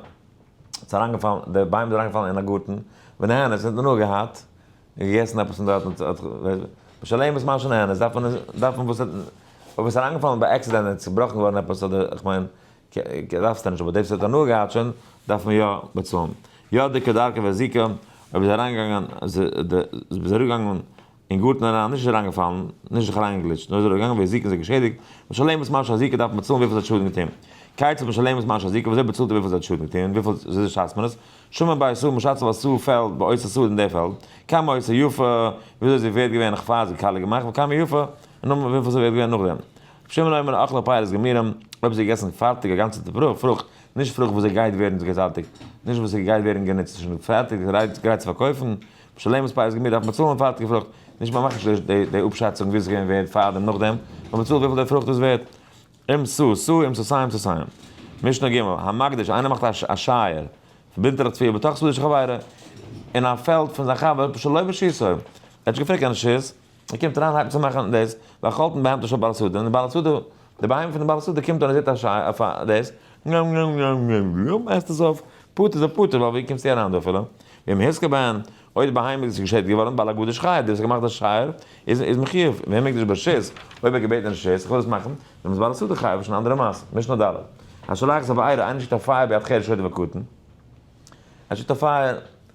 [SPEAKER 1] ס'איז אריינגעפאלן די ביים איז אריינגעפאלן אין א גארטן, ונהנה ס'האט הנאה געהאט, און געגעסן עפעס פון דארט און האט בשלמות משא כ נהנה, דארף מען דארף מען וואס האט אויב עס איז אריינגעפאלן ביי עקסידענט און עס איז צובראכן געווארן עפעס אדער כ'מיין כדארף סטאר נישט אבער דעיווס האט הנאה געהאט שוין דארף מען יא באצאלן יא די כדרכי והזיקה אויב איז אריינגעגאנגען איז אריגעגאנגען אין גארטן אריין נישט איז אריינגעפאלן נישט זיך אריינגעגליטשט נאר איז אריגעגאנגען ווי זיקה זיך געשעדיגט משלמת מה שהזיקה דארף מען צאלן וויפיל זי האט שאדן געטוהן כיצד משלמת מה שהזיקה וויאזוי באצאלט איר וויפיל זי האט שאדן געטוהן וויפיל זיז שאצט מען עס שמן ביי עשו משאצט אויף עשו פעלד ביי עושה סאד אין די פעלד כמה עושה יפה וויאזוי זי ווערט געווען נאך פאר זי כלה געמאכט וכמה יפה און נאכדעם וויפיל זי ווערט געווען נאכדעם שמן אויב מען אכלה פירות גמירים, אויב ס'איז געגעסן פארטיג א גאנצעטע פרוכט, נישט פרוכט וואס ס'גייט ווערן געזייטיגט, נישט וואס ס'גייט ווערן גענוצט, ס'איז שוין פערטיג גרייט צו פארקויפן, בשלמות פרות גמיר דארף מען צאלן פארטיגע פרוכט, נישט מען מאכט נישט די די אפשאצונג וויאזוי ס'געווען ווערד פארדעם נאכדעם, נאר מען צאלט וויפיל די פרוכט איז ווערד. אם סו סו אם סו סיים סו סיים. משנה ג', המקדיש, איינער מאכט א שייער, פארבינדט ער א תביעה בתוך סודו של חברו, אין א פעלד פון זיין חבר, בשלא בשעתו, ער האט נישט געפרעגט קיין רשות, ער קומט אריין הייבט צו מאכן דאס והאכלתם בהמתו של בעל הסעודה און די בעל הסעודה די בהמה פון די בעל הסעודה קומט און ער זעט א שיי אויף א דאס נאם נאם נאם נאם נאם עסט עס אויף פטור זיי פטור ווייל ווי קומסטו אריין דא אפילו ואם הזקה בהן אויב די בהמה איז געשעדיגט געווארן בעל הגדה שחייב דער וואס האט געמאכט די שייער איז איז מחיוב ואם מקדש ברשות אויב ער האט געבעטן רשות איך וויל עס מאכן דאן איז בעל הסעודה חייב שוין א אנדערע מעשה משנה ד' השולח זאב אייער איינער שיקט א פייער ביד חי רשעותו וקטן ער שיקט א פייער.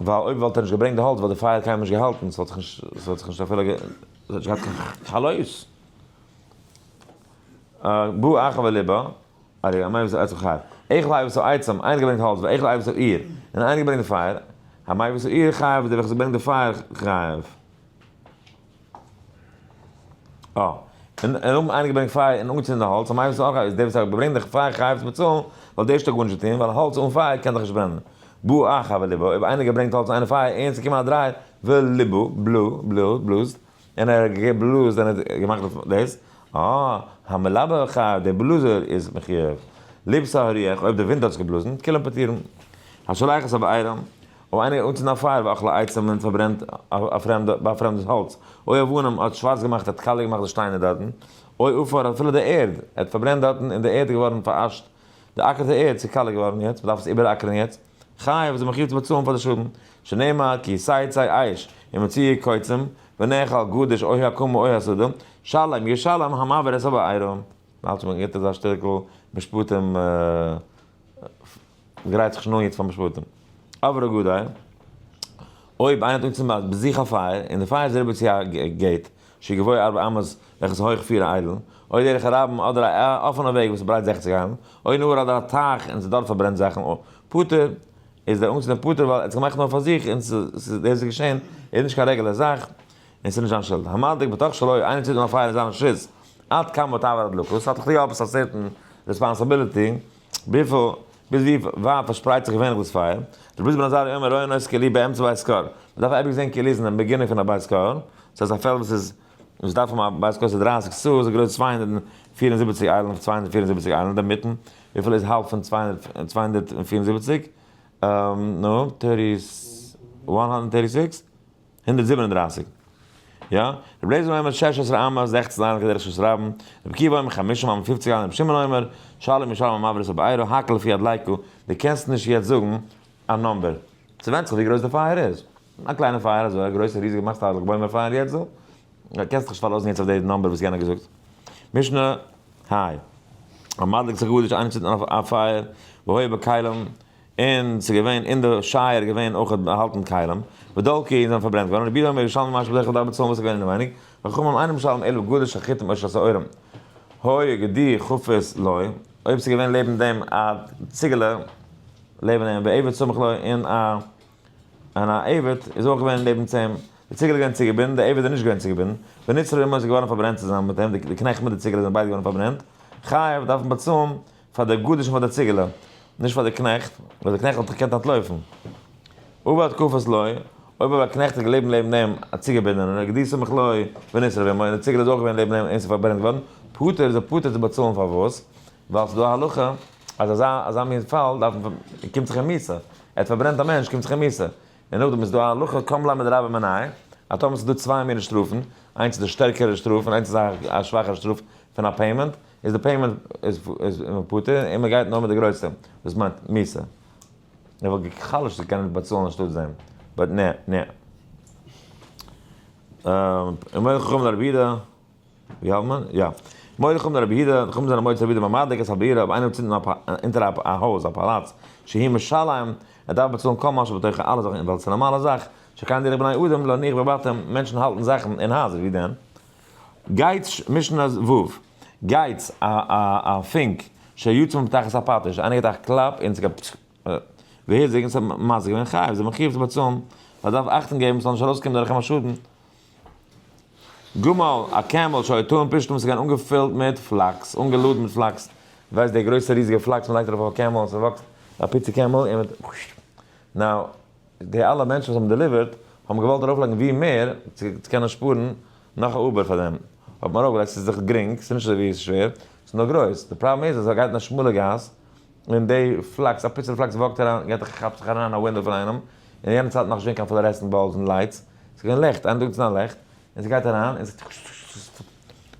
[SPEAKER 1] ווייל אויב וואלט ער נישט געברענגט די האלץ וואלט די פייער קיינמאל נישט געהאלטן, ס'וואלט זיך נישט, ס'וואלט זיך נישט אפילו גע, ס'וואלט נישט געהאט קיין חלות. בא אחר וליבא, ארי אמר איבער עצם חייו, איך לייב איבער עצם, איינער האט געברענגט האלץ, ואיך לייב איבער איר, און איינער האט געברענגט די פייער, המייב איבער איר חייב איז דער וועלכער איז געברענגט די פייער חייב. און האבן אריינגעברענגט פייער און אנגעצינדן די האלץ, אויב איז דער וואס ברענגט די פייער חייב צו באצאלן, וואלט דער שטאק גארנישט געטון, ווייל האלץ אן פייער קען דאך נישט ברענען. בא אח א וליבא, אויב איינער געברענגט האלץ אהן פייער און עס איז געקומען א דריי, וליבא, בלא, בלאזט, און ער האט געבלאזט און ער האט געמאכט דאס, אה, המלבה חייב, דער בלאזער איז מחיוב. ליבסא הריח, אויב דער ווינט האט עס געבלאזן, כולם פטורים. השולח את הבעירם. אויב איינער האט אנצינדן א פייער ווי אכלי עצים און פארברענט א פרעמדע ביי א פרעמדעס האלץ, אוי אבנים האט שווארץ געמאכט ער האט קאליר געמאכט די שטיינער דארטן, אוי עפר האט אפילו די ערד ער האט פארברענט דארטן און די ערד איז געווארן פאראשט, די אקער די ערד ס'איז קאליר געווארן יעצט מ'דארף עס איבעראקערן יעצט, חייב איז ער מחיוב צו באצאלן פאר די שאדן, שנאמר כי סייצי אש ומציא קוצים ונאכל גדש אוי האקמה אוי הסדה, שלום ישלם המעביר את הבעירה. מ'האלט שוין גוט אזא שטיקל משפטים. גרייט זיך שוין אן יעצט פאר משפטים. אב ר גדול, אויב איינער האט אנגעצינדן ביי זיך א פייער, און די פייער איז אריבער צו א געיט, שגבאי ארבע אמות, וועלכע איז הויך פיר איילן, אוי דרך הרבים, אדער א אפענע וועג וואס איז ברייט זעכציק איילן, אוי נהר אדער א טייך און ס'דארט פארברענט זאכן, פטור, איז דער אנגעצינדער פטור ווייל ער האט עס געמאכט נאר פאר זיך און ס'איז דאס איז געשען, איז נישט קיין רעגולער זאך, און ס'איז נישט זיין שולד. המדליק בתוך שלו, איינער צינדט אן א פייער אין זיין רשות, עד כמה תעבור הדלקות, ס'האט לכלי' עפעס א סערטען רעספאנסעבילעטי, וויפיל, ביז ווי ווייט פארשפרייט זיך געווענליך דאס פייער? רבי איז בן עזריה אומר ראה נס כלי באמצע בית כהן, מען דארף אייביג זען כלי איז אין דעם באגינונג פון א בית כהן, דאס הייסט א פעלד וואס איז, וואס דארף האבן א בית כהן וואס איז דרײַסיק סאה איז גרויס צוויי הונדערט און פֿיר און זיבעציק איילן אויף צוויי הונדערט פֿיר און זיבעציק איילן אינדערמיטן, וויפיל איז האלב פון צוויי הונדערט פֿיר און זיבעציק? נו, טערטי, וואן האנדערט טערטי סיקס? הונדערט זיבן און דרײַסיק יא, רבי אליעזר אומר שש עשרה אמה, זעכצן אמה כדרך שעות רבן, רבי עקיבא אומר חמשים אמה, פופציג אמה, רבי שמעון אומר, שלום ישלם אמה ורס אב עירו, הקל לפי יד לייקו, די קענסט נישט יעצט זאגן א נאמבער. ס'ווענדט זיך ווי גרויס די פייער איז. א קליינע פייער אזוי, א גרויסע ריזיגע מאכסט א לג בעומר פייער יעצט דא? די קענסט דיך נישט פארלאזן יעצט אויף די נאמבער וואס יענער האט געזאגט. משנה היי. מ'מדליקט זיך גארנישט, איינער צינדט אן א פייער, והי' בכלים, און ס'איז געווען אין די שייער געווען אויך באהאלטן כלים, ודלקי, און זיי זענען פארברענט געווארן, רבי אומר ירושלמי משהו בדרך כלל די ארבע צאן וואס איז געווען אינעווייניג, חכמים אינם שואלים אלא גדול שחיטים או שסעורים, הוי גדי חפש לוי, אויב ס'איז געווען לעבן דעם א ציגעלע לעבן אים, ועבד סמוך לו, און א און א עבד איז אויך געווען לעבן צו אים, די ציגעלע איז געווען צוגעבינדן, די עבד איז נישט געווען צוגעבינדן, ונצרב עמו איז געווארן פארברענט צוזאמען מיט אים, די קנעכט מיט די ציגעלע זענען ביידע געווארן פארברענט, חייב דארף מען באצאלן פאר דער גדש און פאר דער ציגעלע, נישט פאר דער קנעכט, ווייל דער קנעכט האט געקענט אנטלויפן. ובא תקופת לוי, אויב אבער א קנעכט איז געלעבן לעבן אים, א ציגעבינדערנער, גדי סמוך לוי, ונשרף עמו, און דער ציגעלע איז אויך געווען לעבן אים און עס איז פארברענט געווארן, פטור איז ער פטור צו באצאלן פאר וואס? ווייל ס'איז דא א הלכה אז אזא אזא מין פאל דארף מען פ קומט זיך אים מיתה, ער האט פארברענט א מענטש קומט זיך אים מיתה, און נאכדעם איז דא א הלכה קמ ל מדרבה מנאי, אז טאמער ס'איז דא צוויי מיני שטראפן, איינס איז א שטערקערע שטראף און איינס איז א שוואכערע שטראף פון א פעימענט, איז די פעימענט איז איז פטור און מען גייט נאר מיט די גרויסטע דאס מיינט מיסע ער וואלט גע'חלש'ט צו קענען באצאלן אנשטאט זיי באט נע נע מורה חכם לרבי יהודה ווי האלט מען יא מורה חכם לרבי יהודה די חכמים זענען מועצת רבי יהודה ביי מדליק את הבירה אויב איינער האט צינדן אפ אונטער א הויז א פאלאץ שהי' משלם ער דארף באצאלן כל מה שבתוכה אלע זאכן אין וועלט ס'נארמאלע זאך שכן דרך בני אדם להניח בבתיהם מענטשן האלטן זאכן אין הייזער ווי דען גייטש, משנה ו, גייטס, א א א פונק, ש י צום פתח עס א פאטעש, איינער געט א קלאפ אין ס'גייט פטש, ווער זעגנט ס'האט מזיק ווען חייב איז מחיוב צו באצאלן, מ'דארף אכטונג געבן ס'זאל נישט ארויסקומען דורך אים א שאדן. גמל, א קעמל, ש י טועם פשתן וואס איז געווען אנגעפילט מיט פלאקס, אנגעלאדן מיט פלאקס, ווייסט דער גרויסע ריזיגע פלאקס מ'לייגט ארויף אויף א קעמל און ס'וואקסט, א פיצי קעמל און מ'ט, נאו. די אלע מענטשן וואס האבן דעליווערט האבן געוואלט ארויפלייגן ווי מער צו קענען שפארן נאך א אובער פאר דעם האט מען ארויפגעלייגט ס'איז דאך גרינג ס'איז נישט אזויווי ס'שווער ס'איז נאר גרויס די פראבלעם איז אז ס'גייט אין א שמאלע גאס און די פלאקס א פיצעלע פלאקס וואקט אריין גייט ער כאפט זיך אריין אין א ווינדאו פון איינעם און אין יענע צייטן נאך נישט געווען קיין פלארעסענט באלבס און לייטס ס'איז געווען לעכט איין טאג איז געווען א לעכט און זי גייט אריין און זעט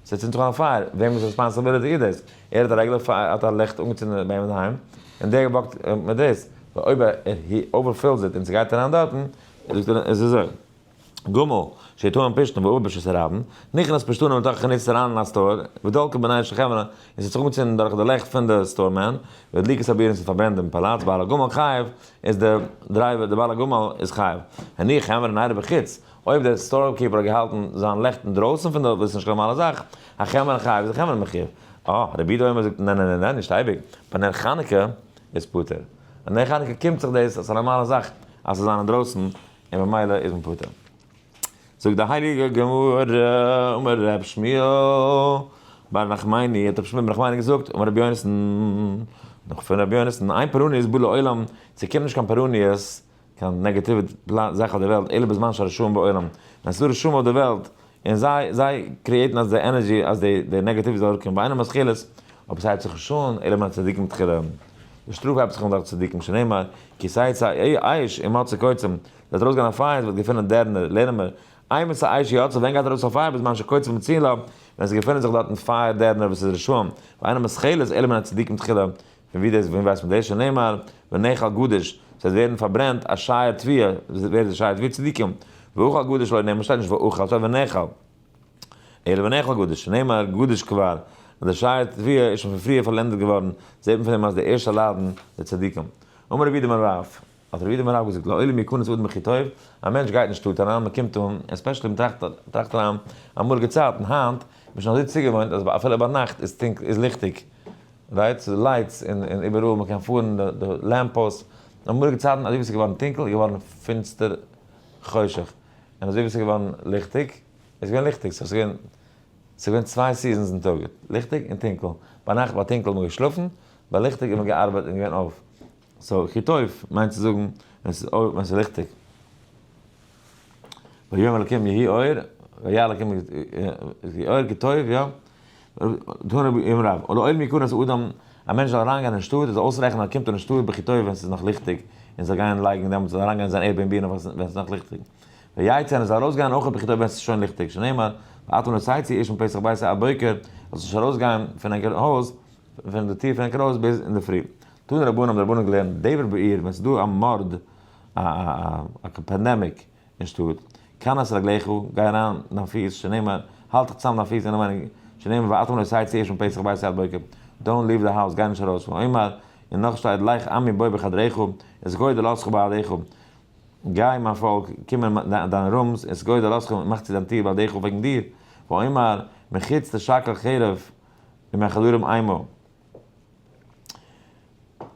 [SPEAKER 1] זיי צינדט זיך אן א פייער, וועמען איז רעספאנסעבילעטי איז דאס? ער האט א רעגולער פייער האט א לעכט אנגעצינדען ביי אים אינדערהיים און דער וואקט מיט דאס, ווייל אויב ער אווערפילס איט און זי גייט אריין דארטן, זאגט ער איז אזוי, גמ' שתהום פשתן ואובה בשסה רבן, נכנס פשתנים לתוך החנית אריין אין א סטאר, ודלקו בנייש החברה, און ס'האט זיך אנגעצינדן דורך די לעכט פון די סטאר מען, ודליקת הבירה און ס'האט פארברענט דעם פאלאץ, בעל הגמל חייב, איז דער דרייווער, דער בעל הגמל איז חייב, הניח העמער אין איידער בחוץ, אויב דער סטארקעפער האט געהאלטן זיין לעכט אינדרויסן פון דארט וואס איז נישט קיין נארמאלע זאך, א חמר חי איז א חמר מחיה, אה, רבי דומא זאגט נע נע נע נע נישט אייביג, ביי נר חנוכה איז פטור, ביי נר חנוכה קומט זיך דאס אז ס'איז א נארמאלע זאך אז ס'זיין אינדרויסן און ממילא איז מען פטור. זאגט די הייליגע גמרא, אמר רב שמואל בר נחמני, האט רבי שמואל בר נחמני געזאגט, אמר רבי יונתן, נאך פון רבי יונתן, אין פורעניות בא לעולם, ס'קומט נישט קיין פורעניות, קיין נעגאטיווע זאך אויף די וועלט אלא בזמן שהרשעים בעולם, ווען ס'איז דא רשעים אויף די וועלט און זיי זיי קריעטן אז די ענערדזשי אז די די נעגאטיוו זאל אראפקומען ביינעם אז כלות אבער ס'הייבט זיך נישט אן אלא מן הצדיקים תחילה, די שטראף הייבט זיך אן דורך צדיקים שנאמר כי סייעתא אייש אם מצא קוצים, וועט ארויסגיין א פייער ס'וועט געפינען דערנער לערנען מיר אי מצא אייש יצא ווען גייט ארויס א פייער בזמן שקוצים מצילה ווען ס'געפינען זיך דארטן פייער דערנער וואס איז רשעים ביינעם אז כלות אלא מן הצדיקים תחילה, פון ווי דאס, וואו ווייסט מען דאס? שנאמר, ונאכל גדש, ס'וועט ווערן פארברענט, א שייע תביעה, ווער איז די שייע תביעה? צדיקים. ואוכל גדש לא נאמר, שטייט נישט ואוכל, שטייט ונאכל. אלא ונאכל גדש, שנאמר, גדש כבר, אז די שייע תביעה איז שוין פון פריער פארלענדערט געווארן, זעט מען פון דעם אז די ערשטע ליידן די צדיקים. אמר רבי יהודה מרב. האט רבי איתמר רב געזאגט, לא עולים יקונס אדם הכי טוב, א מענטש גייט אין שטאט אריין, מען קומט אן, עספעשעלי מען טראכט טראכט אריין אמאליגע צייטן, היינט איז מען שוין אזוי צוגעוואוינט אז אפילו ביינאכט איז טונקל איז ליכטיג, רייט? ס'איז לייטס אין אין איבעראל, מען קען פארן די די לעמפאס, אמאליגע צייטן אזוי ווי ס'איז געווארן טונקל איז געווארן פינסטער חושך, און אזוי ווי ס'איז געווארן ליכטיג איז געווען ליכטיג, סאו ס'איז געווען ס'איז געווען צוויי סיזענס אין טאג, ליכטיג און טונקל, ביינאכט ביי טונקל האט מען געשלאפן, ביי ליכטיג האט מען געארבייט און געווען אויף. סאו כי טוב מיינט צו זאגן ווען ס'איז אור ווען ס'איז ליכטיג. ויאמר אלקים יהי אור, ויהיה אלקים יהי אור כי טוב, יא. תנו ביום רב, און לאור מיכנס אדם, א מענטש זאל אריינגיין אין שטאט, ער זאל אויסרעכענען אז ער קומט אין שטאט בכי טוב ווען ס'איז נאך ליכטיג, און זאל גיין לייגן דעמאלטס זאל ער אריינגיין אין זיין עיר בין בינה ווען ס'איז נאך ליכטיג. ויצא און ער זאל ארויסגיין אויך בכי טוב ווען ס'איז שוין ליכטיג, שנאמר, ואתו נשא צו איש מפתח ביתו עד בוקר, ער זאל זיך ארויסגיין פון ענקער הויז, פון די טיר פון ענקער הויז ביז אינדערפרי. תנו רבנן האבן די רבנן געלערנט דבר בעיר ווען ס'איז דא א מארד א א א א פענדעמיק אין שטאט כנס רגליך גיי אריין דיין פיס שנאמר האלט דיך צוזאם דיין פיס אינעם וויינינג שנאמר ואטום לא סיי צוערשט פון פסח ביי סיי עד בוקר דאונט ליוו די האוז גיי נישט ארויס פון עמך און נאך שטייט לך עמי בוא בחדריך את גודל ארצך בעדיך גיי מיין פאלק קום אין דיין רומס את גודל ארצך און מאך צו דיין טיר בעדיך וועגן דיר ועמר מחוץ תשכל חרב און מיין חדרים עמו.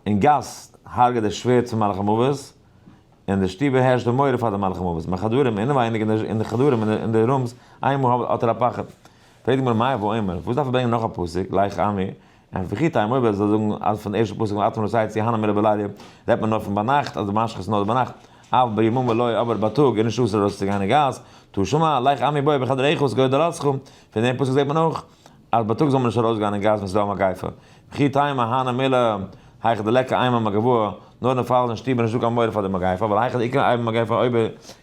[SPEAKER 1] אין גאס הרג'ט דער שווערד צום מלאך המוות, און אין די שטובער הערשט די מורא פאר דעם מלאך המוות, אין חדרים אינעווייניג אין די חדרים אין די רומס איינמאל האט ער א פחד, פרעגט די גמרא מאי הוה אומר, וואס דארף ער ברענגען נאך א פסוק, לייך עמי, און וכי טעם אויב ער זאל זאגן אז פון די ערשטע פסוק וואלט אתמול רצייץ יהנא מילה בלילה רעדט מען נאר פון ביינאכט אז די משחית איז נאר ביינאכט אוו בימים ולא אבער בייטאג איז נישט אסור ארויסצוגיין אין גאס, תשמע, לייך עמי בואי בחדריך וואס גודל עולתך, פון דעם פסוק זעט מען אויך. אז בייטאג זאל מען נישט ארויסגיין אין גאס ווען ס'איז דא א מגיפה, וכי תימא מהנא מילא היכא דלקא איימא מגבהא, נאר אין פאל אין שטוב איז נישטא קיין מורא פאר די מגיפה, ווייל היכא דאיכא איימא מגבהא אויב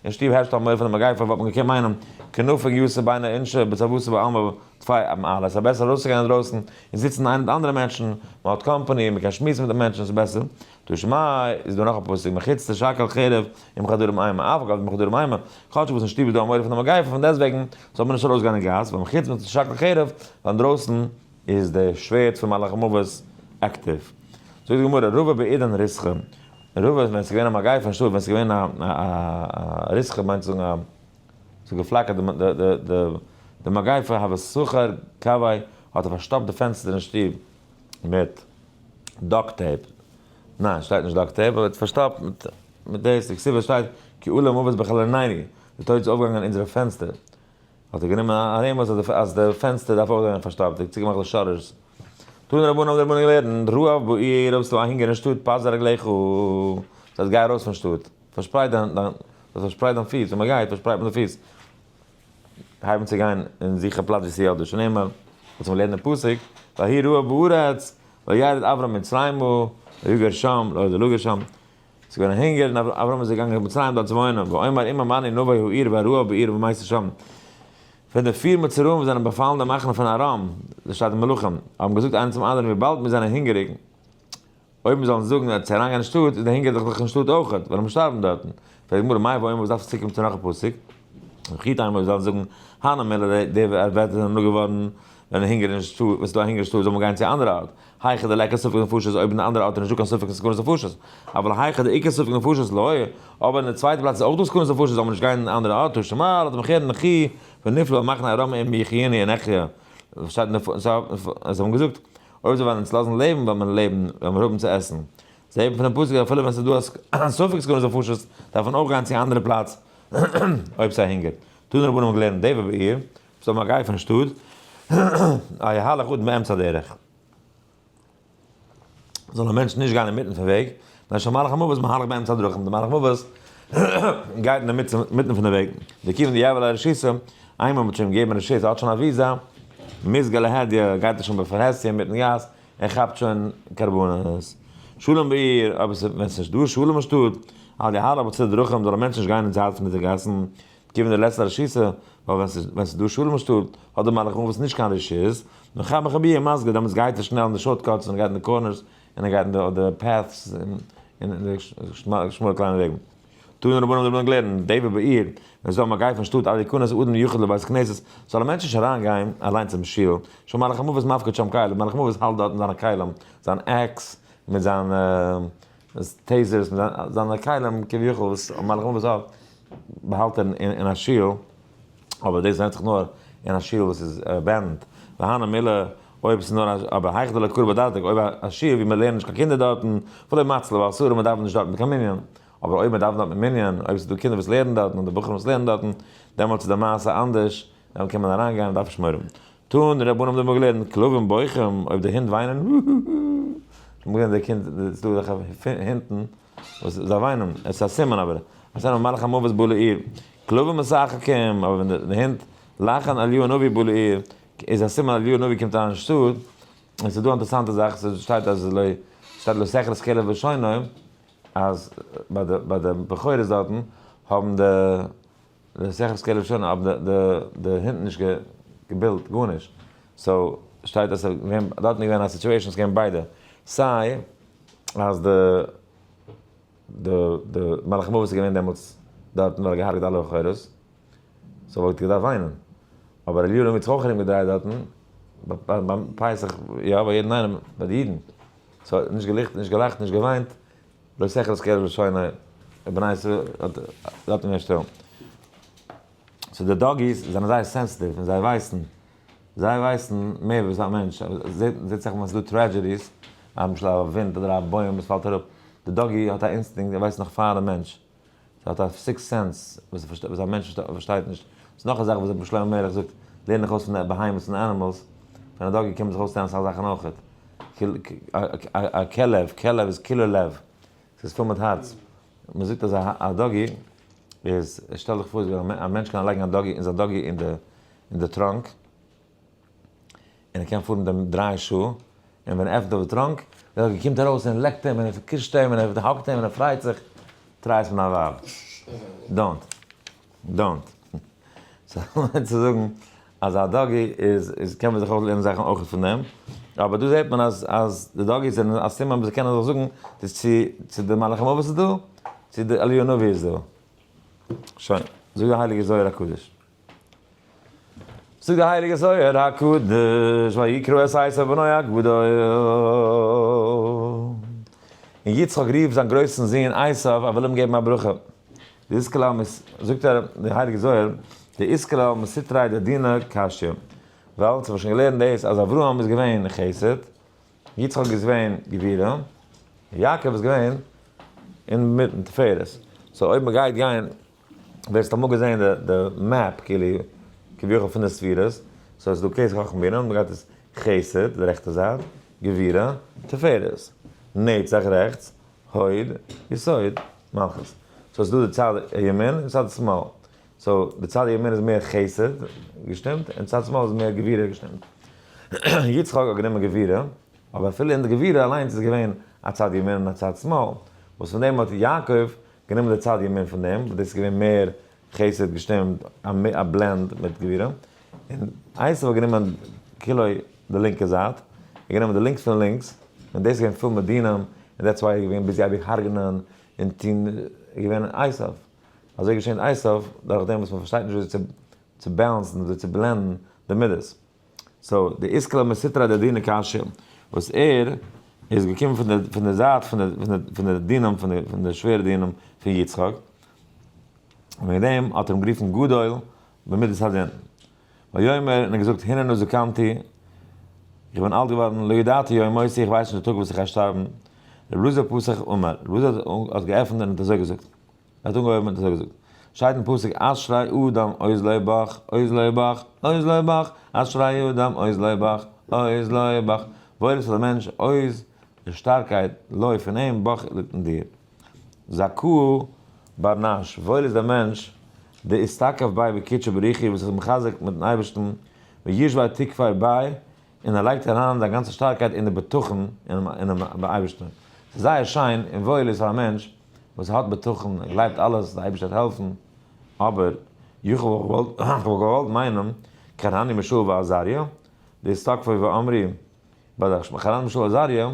[SPEAKER 1] אין שטוב הערשט א מורא פון די מגיפה וואלט מען געקענט מיינען כנפג יסא ביינא אינשא בצוותא בעלמא טפי א מעלה, ס'איז בעסער ארויסצוגיין אינדרויסן און זיצן איינער מיט אנדערע מענטשן, מ'האט קאמפאני, מ'קען שמועסן מיט די מענטשן, ס'איז בעסער. תשמ א איז דא נאך א פסוק מחוץ תשאקל חרב עם כדורים איימא אף על גב די כדורים איימא, כאטש וואס אין שטוב איז דא א מורא פון די מגיפה פון דעסט וועגן זאל מען נישט ארויס גיין אין גאס ווייל מחוץ מען תשאקל חרב ווייל אינדרויסן איז די שווערד פון מלאך מוות עקטיוו. זאגט די גמרא רובא בעידן ריסכא רובא ווען עס איז געווען א מגיפה אין שטוב ווען עס איז געווען א ריסכא מיינט צו זאגן א עס האט געפלאקערט די מגיפה הווי סוחר קאווי האט ער פארשטאפט די פענסטער אין שטוב מיט דאק טעיפ, ניין שטייט נישט דאק טעיפ אבער פארשטאפט מיט מיט דאס, די כתובה שטייט כי עלה מוות בחלל עינינו, די טויט איז אויפגעגאנגען אונזערע פענסטער, האט ער גענומען א רמז אז די פענסטער דארף אויך זיין פארשטאפט, די צוגעמאכט די שאטערס, טוהן רבנים האבן די רבנים געלערנט רעב בעיר האסטו א הונגער אין שטאט פזר רגליך, דאס הייסט גיי ארויס פון שטאט, פארשפרייט דיין, פארשפרייט דיין פיס, ווען מען גייט פארשפרייט מען די פיס. הייבן צו גיין און זוכן א פלאץ ווי ס'איז יא דא שנעמער, וואס מען לערנט אין פסוק, ויהי רעה בארץ, וירד אברם מצרימה, ויגר שם, לא ידע לגר שם, ס'איז געווען הונגער און אברם איז געגאנגען קיין מצרים דארט צו וואוינען, ואמר אם אמני נבא העיר והרעה בעיר ומעשה שם, ווען די פיר מצורעים וואס זענען באפאלן די מחנה פון ארם, דארט שטייט מלכים, האבן געזאגט איינער צום אנדערן וויבאלד מיר זענען הונגעריג, אויב מיר זאלן זאגן אז צו אריינגיין אין שטאט איז די הונגער דאך זיך אין שטאט אויכעט, וועלן מיר שטארבן דארטן. פרעגט די גמרא, מאי ואומר וואס דארף עס צוקומען צו נאך א פסוק? וכי טעמא אויב מיר זאלן זאגן הנה מילא די די ווערטער זענען נאר געווארן ווען הונגער אין שטאט, ווען ס'איז דא א הונגער אין שטאט זאל מען גיין צו א אנדערע ארט, היכא דלעיקר ספק נפשות אויב אין די אנדערע ארט איז נישטא קיין ספק אין סכנת נפשות, אבל היכא דעיקר ספק נפשות לא היה, אבער אין די צווייטע פלאץ איז אויך דא סכנת נפשות זאל מען נישט גיין אין אנדערע ארט, תשמע ל אתם כן נכי ונפלו על מחנה ארם אם יחיני אנכיה, זיי האבן געזאגט. אויב זיי וועלן אונז לאזן לעבן וועלן מיר לעבן, וועלן מיר האבן צו עסן. זיי האבן פונעם פסוק אז אפילו ווען ס'איז דא א ספק סכנת נפשות דארף מען אויך גיין צו א אנדערע פלאץ אויב ס'הונגערט. טוהן רבנים גלערן דעבע בעיר, וואס האבן א גיי פון שטאט א יהלך אדם באמצע הדרך. זאל א מענטש נישט גיין אינמיטן פון וועג, ווען שוין מהלך המוות איז מהלך באמצע הדרכים און די מהלך מוות גייט אינמיטן פון די וועג וכיוון דיעבד א רשות איינמאל מ'האט שוין געגעבן רשות האט שוין א וויזא מזגא להדיא גייט ער שוין בפרהסיא אינמיטן גאס און כאפט שוין קרבנות שלום בעיר אבער ווען ס'איז נישט דא שלום אין שטאט על די הארץ בצדי דרכים זאל א מענטש נישט גיין אין זייט פון די גאסן כיוון די לעצטע רשות ווייל ווען ס'איז דא שלום אין שטאט האט די מהלך מוות נישט קיין רשות מרחב מרחביה מזגא דעמאלטס גייט ער שנעל אין די שארט קאטס און גייט אין די קארנערס און ער גייט אין די אדער פעט'ס און די שמאלע קליינע וועגן. טוען רבנים דערמאנען געלערנט די וועד בעיר מען זאל מגיין פון שטאט עד יכנס אדם יחיד לבית הכנסת זאל א מענטש נישט אריין גיין אליין צום שיל שם מלאך המוות מפקד שם כלים מלאך המוות האלט דארטן זיינע כלים זיין עקס מיט זיינע טעיזערס מיט זיינע כלים כביכול וואס מלאך המוות האט באהאלט אין א שיל. אבער דאס ווענדט זיך נאר אין א שיעור וואס איז ערווענט, והנה מילה, אויב ס'איז נאר א, אבער היכדא לקרא בדתק, אויב א שיעור ווי מ'לערנט נישט קיין קינדער דארטן, ולא מצ ל ואל סור, און מ'דאווענט נישט דארטן קיין מנין, אבער אויב מ'דאווענט דארט מיט מנין, אויב ס'איז דא קינדער וואס לערנען דארטן אדער בחורים וואס לערנען דארטן, דעמאלטס איז די מעשה אנדערש, דעמאלטס קען מען אריינגיין און דארף נישט מורא האבן. טאן די רבנים דעמאלט געלערנט, כלבים בויכם, אויב די הינט וויינען, האהאהא, האט מען געלערנט די קינד, ס'איז דא אזעלכע הינטן, וואס זיי וויינען, עס איז א סימן אבער, אז ער מלאך המוות בא לעיר, כלבים משחקים, אבער ווען די הינט לאכן אליהו הנביא בא לעיר, איז א סימן אז אליהו הנביא קומט אריין אין שטאט, און ס'איז דא א אינטערעסאנטע זאך, ס'שטייט אז לא, ס'שטייט לא שכר כלב ושונאו, אז ביי די, ביי די בכורות דארטן, האבן די. מסכת כלב שנה אבער די די הינט נישט געבילט גארנישט סאו שטייט אז ס'איז געווען דארטן איז געווען א סיטואשען ס'איז געווען ביידע סיי אז די די די מלאך מוות איז געווען דעמאלטס דארטן ווייל ער האט געהארגעט אלע אחרות סאו וואלט געדארפט וויינען אבער אליהו נביא האט זיך אויך ארום געדרייט דארטן ביים פסח יא ביי יעדן איינעם ביי די אידן סאו נישט געלעכט נישט געלאכט נישט געוויינט לא שכל אז כרם שוינע בני ישראל האט דארט אין אשתו. סאו די דאגיס זענען זייער סענסעטיוו און זיי ווייסן, זיי ווייסן מער וואס א מענטש, זעהט זיך ווען ס'דא טרעדזשעדיס, למשל א ווינט אדער א בוים וואס פאלט אראפ, די דאגי האט א אינסטינקט, ער ווייסט נאך פאר די מענטש. זי האט א סיקסט סענס וואס א מענטש פארשטייט נישט. ס'איז נאך א זאך וואס רבי שלמה מערלעך זאגט, לערן דיך אויס פון די בהמות און אנימעלס, פון א דאגי קען מען זיך אויסלערנען אסאך זאכן אויכעט. א כלב, כלב איז כולו לב, ס'איז פול מיט הארץ. מען זאגט אז א דאגי איז, שטעל דיך פאר א מענטש קען אריינלייגן א דאגי, אונזער דאגי אין די טראנק, און ער קען פארן דעם דריי שעה, און ווען ער עפנט אויף די טראנק, דער אויגל קומט ארויס און ער לעקט אים און ער קישט אים און ער האגט אים און ער פרייט זיך, טריי עס מיט דיין ווייב, דאונט, דאונט, סא כ'מיין צו זאגן אז א דאגי איז איז קען מען זיך אויך לערנען זאכן אויך פון דעם, אבער דא זעט מען אז אז די דאגיס זענען א סימן וואס זיי קענען זיך זאגן, די צו צו די מלאך המוות איז דא, צו די אליהו הנביא איז דא, שוין, זאגט די הייליגע זוהר הקדוש. זאגט די הייליגע זוהר הקדוש ויקרא את עשיו בנו הגדול, און יצחק רופט זיין גרויסן זון עשיו ער וויל אים געבן א ברכה, דאיסקלא זאגט ער די הייליגע זוהר דאיסקלא מסיתרי דדינא קשיא, ווייל אונז האבן שוין געלערנט דאס אז אברהם איז געווען חסד, יצחק איז געווען גבירה, און יעקב איז געווען אינמיטן תפארת, סאו אויב מגייט גיין. וועסט אמאל געזען די די מעפ כאילו כביכול פון די ספירות, סאו ס'דא כסא חכם בינה, מ'גייט דאס חסד די רעכטע זייט, גבירה, תפארת, נצח רעכטס, הוד, יסוד, מלכות, סאו ס'דא די צד ימין און צד שמאל, סאו די צד ימין איז מער חסד, געשטימט, און צד שמאל איז מער גבירה, געשטימט. יצחק האט גענומען גבירה, אבער אפילו אין די גבירה אליינס איז געווען א צד ימין און א צד שמאל, וואס פון דעם האט יעקב גענומען די צד ימין פון דעם, וואס דאס איז געווען מער חסד געשטימט, א בלענד מיט גבירה, און עשיו האט גענומען כולו די לינקע זייט, ער האט גענומען די לינקס פון לינקס, און דאס איז געווען פול מיט דינים, און דעטס וויי ער איז געווען ביזי אייביג הרג'נען און טון, ער איז געווען עשיו. אזוי געשען עשיו, דורכדעם וואס מען פארשטייט נישט וויאזוי צו צו בעלענסן, וויאזוי צו בלענדן די מידות. סאו די איסקלא מסתרא דדינא קשיא וואס ער איז געקומען פון די פון די זייט פון די פון די דינם פון די פון די שווערע דינם פון יצחק און וועגן דעם האט ער אים גערופן גדול במידת הדין ויאמר און ער געזאגט הננו זקנתי איך בין אלט געווארן לא ידעתי יום מותי איך ווייס נישט די טאג וואס איך גיי שטארבן רבי אלעזר פסח אמר רבי אלעזר האט געעפנט און האט אזוי געזאגט ער האט אנגעהויבן און עס האט געזאגט, שטייט אין פסוק אשרי אדם עוז לבך, עוז לבך, עוז לבך, אשרי אדם עוז לבך, עוז לבך, וואויל איז פאר די מענטש, עוז איז שטארקייט, לוי פון אים, בך ליגט אין דיר. זכאו בר נש, וואויל איז דער מענטש, דער איז תקף ביי בקדשי בריחי וואס איז מחזק מיטן אייבערשטן, וישבי תקפי ביי, און ער לייגט אריין זיין גאנצע שטארקייט אין די בטחון אינעם אייבערשטן. ס'איז זייער שיין און וואויל איז פאר א מענטש וואס האט בטחון, ער גלייבט אלעס, די אייבערשטער וועט העלפן, אבער איך וואלט געוואלט מיינען כרני משול ועזריה, די סטאקפוי ואמרי בדש ם, כרני משול ועזריה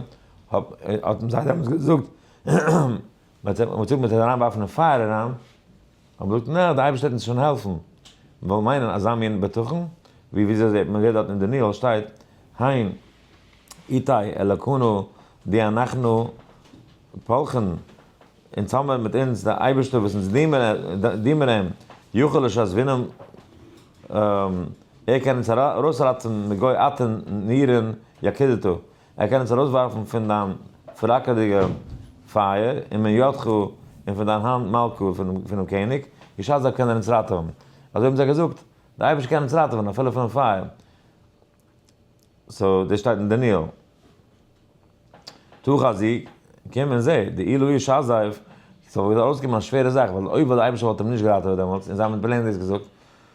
[SPEAKER 1] האט אים זיי דעמאלטס געזאגט, מ'האט אים געזאגט מ'וועט אים אריינווארפן אין פייער אריין, האט געזאגט נע, די אייבערשטער וועט אונז שוין העלפן, מיר וועלן מיינען אזא מין בטחון, ווי וויאזוי זעט מען ווערט דארט אין דניאל שטייט, הן איתי אלקינו די אנחנו פלחן, און טאמער מיט אונז די אייבערשטער וואס אונז דינמען אים, יוכל לשז וינם, ער קען אונז ארויסראטעווען מגוי אתן נירן יקדתו, ער קען אונז ארויסווארפן פון דיין פלאקערדיגע פייער און מען ידך און פון דיין האנט מלכה פונעם קעניג, בשעת דארט קען ער אונז ראטעווען. אזוי האבן זיי געזאגט, דער אייבערשטער קען אונז ראטעווען אפילו פונעם פייער. סאו דאס שטייט אין דניאל. טו חזי, קום און זע, די אילו איש עזב, ס'וואלט געדארפט ארויסקומען א שווערע זאך, ווייל אויב וואלט דער אייבערשטער וואלט אים נישט געראטעוועט דעמאלטס און זיי האבן אים פלעין דאס געזאגט,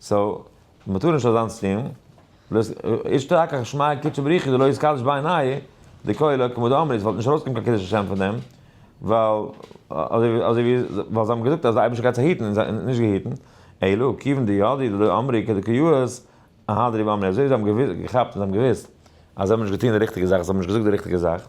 [SPEAKER 1] סאו מ'טאר נישט אזאנס טוהן, בלויז איש תקח ושמיה קדשו בריחו דלא יתקדש בעיני דקאי לא כמודו אמרי, ס'וואלט נישט ארויסגעקומען קיין קידוש השם פון דעם, ווייל אזוי ווי זיי האבן געזאגט אז די אייבערשטער גייט זיי היטן און זיי האבן נישט געהיטן, אלא כיוון דיודעי דלא אמרי כדקאיות אהדרי באמרי, אזוי ווי זיי האבן געכאפט און זיי האבן געוואוסט אז זיי האבן נישט געטוהן די ריכטיגע זאך, זיי האבן נישט געזאגט די ריכטיגע זאך.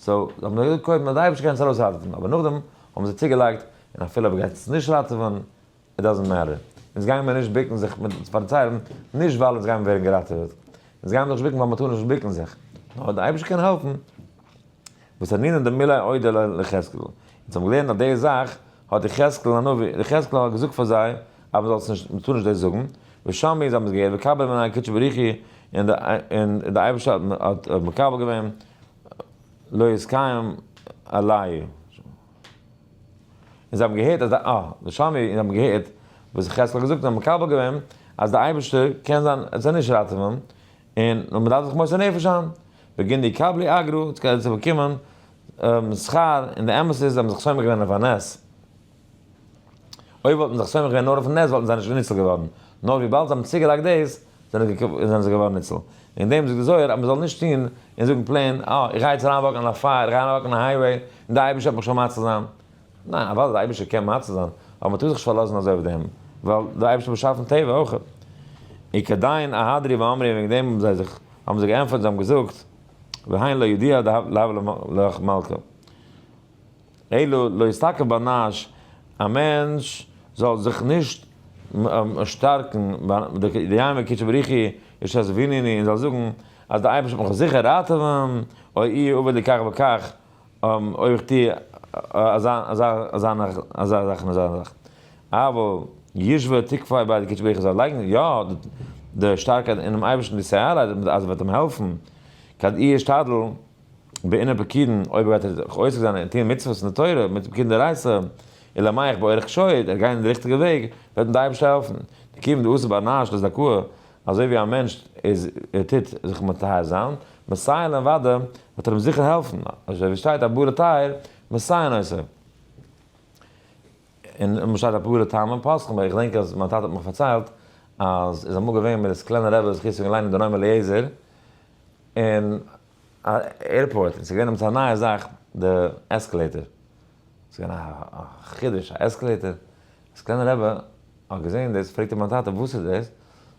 [SPEAKER 1] סאו זיי האבן נאר קודם אודאי נישט געקענט עס ארויס ראטעווען אבער נאכדעם האבן זיי צוגעלייגט און אפילו אויב ער גייט עס נישט ראטעווען איט דאזענט מעטער אונז גייען מער נישט ביקן זיך מיט אים צו פארציילן נישט ווייל אונז גייען ווערן געראטעוועט אונז גייען זיך נישט ביקן ווייל מען טאר נישט ביקן זיך נאר אויב די אייבערשטער קען העלפן וואס ענינן דמילי אודה לו ליחזקאל אונז האבן געלערנט אז די זאך האט יחזקאל הנביא יחזקאל האט געזאגט פאר זיי אז מען זאל עס נישט מען טאר נישט דאס זאגן ושם איז האבן זיי געהערט וקבל מנין הקדשי בריך הוא און די אייבערשטער האט מקבל געווען. לא יזכם עלי. און זיי האבן געהערט אז די אה, די שמע און זיי האבן געהערט וואס חז ל האבן געזאגט און האבן מקבל געווען אז די אייבערשטער קען זיין עס זיי נישט ראטעווען, און נאר מ'דארף זיך מוסר נפש זיין, וגידי יקבלי אגרא, עס גייט זיך באקומען שכר, און די אמת איז זיי האבן זיך סומך געווען אויף א נס. אויב וואלט מען זיך סומך געווען נאר אויפן נס וואלטן זיי נישט ניצול געווארן, נאר וויבאלד זיי האבן צוגעלייגט דאס זענען זיי געווארן ניצול, וועגן דעם זאגט די זוהר אז מען זאל נישט טון און זאגן פלעין אה איך גיי יעצט אריין וואקן אין א פייער, איך גיי אריין וואקן אין א הייוועי, און די אייבערשטער וועט מיך שוין מציל זיין, ניין אוודאי די אייבערשטער קען מציל זיין, אבער מען טאר זיך נישט פארלאזן אזוי אויף דעם, ווייל די אייבערשטער האט באשאפן טבע אויך. און כדין ההדרי ואמרי און וועגן דעם האבן זיי זיך האבן זיי געענטפערט און זיי האבן געזאגט והיין לא ידיעה להבא לך מלכה. אלא לא יסתכל באנאש, א מענטש זאל זיך נישט שטארקן דיימא כי שבריחי ישזפינני און זאל זאגן אז דער אייבערשטער וועט מיך זיכער ראטעווען, או אי עובר לי כך וכך, אויב איך טו אזא אזא אזא זאך און אזא זאך, אבל ישבע תקפי בידי כי שבריחי זאל לייגן יא די שטארקייט אינעם אייבערשטן די סיי ארבייט אז ער וועט אים העלפן, כד אי אשתדל. בעין הפקידין, אויב גייט ער זיך עוסק זיין אין טוהן מצוות אין די תורה מיט פקידין דרייסא, אלא מאי איך באורך שור, ער גיין אין די ריכטיגע וועג, וועט אים די אייבערשטער העלפן. די קיום דעושה באנאש לזכאה, אזוי ווי א מענשט איז ער טוט זיך מטהר זיין, מסייען להם ודע, וועט ער אים זיכער העלפן, אזוי ווי עס שטייט א בורא טהר, מסייען עושה. און און שטייט א פורא טעם און פסחים, איך געדענק אז מיין טאטע האט מיך פארציילט, אז איז אמאל געווען מיט די סקלענע רעבע זכות צו גיין לייענען דער נועם אליעזר, און. עירפארט און ס'איז געווען עפעס א נייע זאך די עסקעלעיטער, ס'איז געווען א חידוש א עסקעלעיטער, אז קליינע רבי האט געזען דאס פרעגט ער מיין טאטע וואס איז דאס,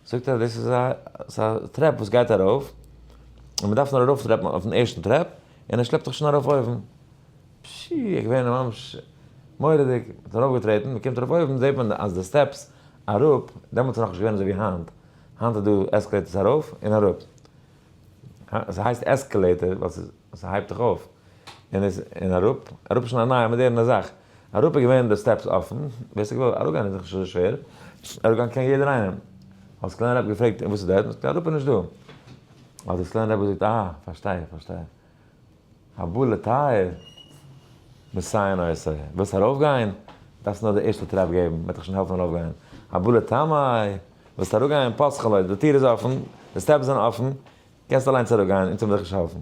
[SPEAKER 1] זאגט ער דאס איז א ס'איז א טרעפ וואס גייט ארויף און מען דארף נאר ארויף טרעפן אויפן ערשטן טרעפ און ער שלעפט דיך שוין ארויף אויבן, פשי איך בין ממש מורא'דיג, מ'האט ארויף געטרעטן מ'קומט ארויף אויבן זעט מען אז די סטעפס אראפ, דעמאלטס איז נאכנישט געווען אזוי ווי היינט, היינט איז דא עסקעלעיטערס ארויף און אראפ, ס'הייסט עסקעלעיטער ווייל ס'הייבט זיך אויף און אראפ, אראפ איז שוין א נייע מאדערנע זאך, אראפ איז געווען די סטעפס אפען, ווער ס'האט געוואלט אראפגיין איז דאך נישט אזוי שווער, אראפגיין קען יעדער איינעם, האט סקלענער רבי געפרעגט און וואס איז דארט, האט ער געזאגט אראפ איז נישט דא, האט די סקלענער רבי געזאגט אה פארשטיי איך פארשטיי איך, הבא לטהר מסייעין עושה, ווילסט ארויפגיין? דארפסט נאר די ערשטע טרעפ געבן, מען וועט דיך שוין העלפן ארויפגיין. הבא לטמאי, ווילסט אראפגיין? פסחא לויט, די טיר איז אפן, די סטעפס זענען אפן, קענסט אליינס אראפגיין, אונז וועל דיך נישט העלפן.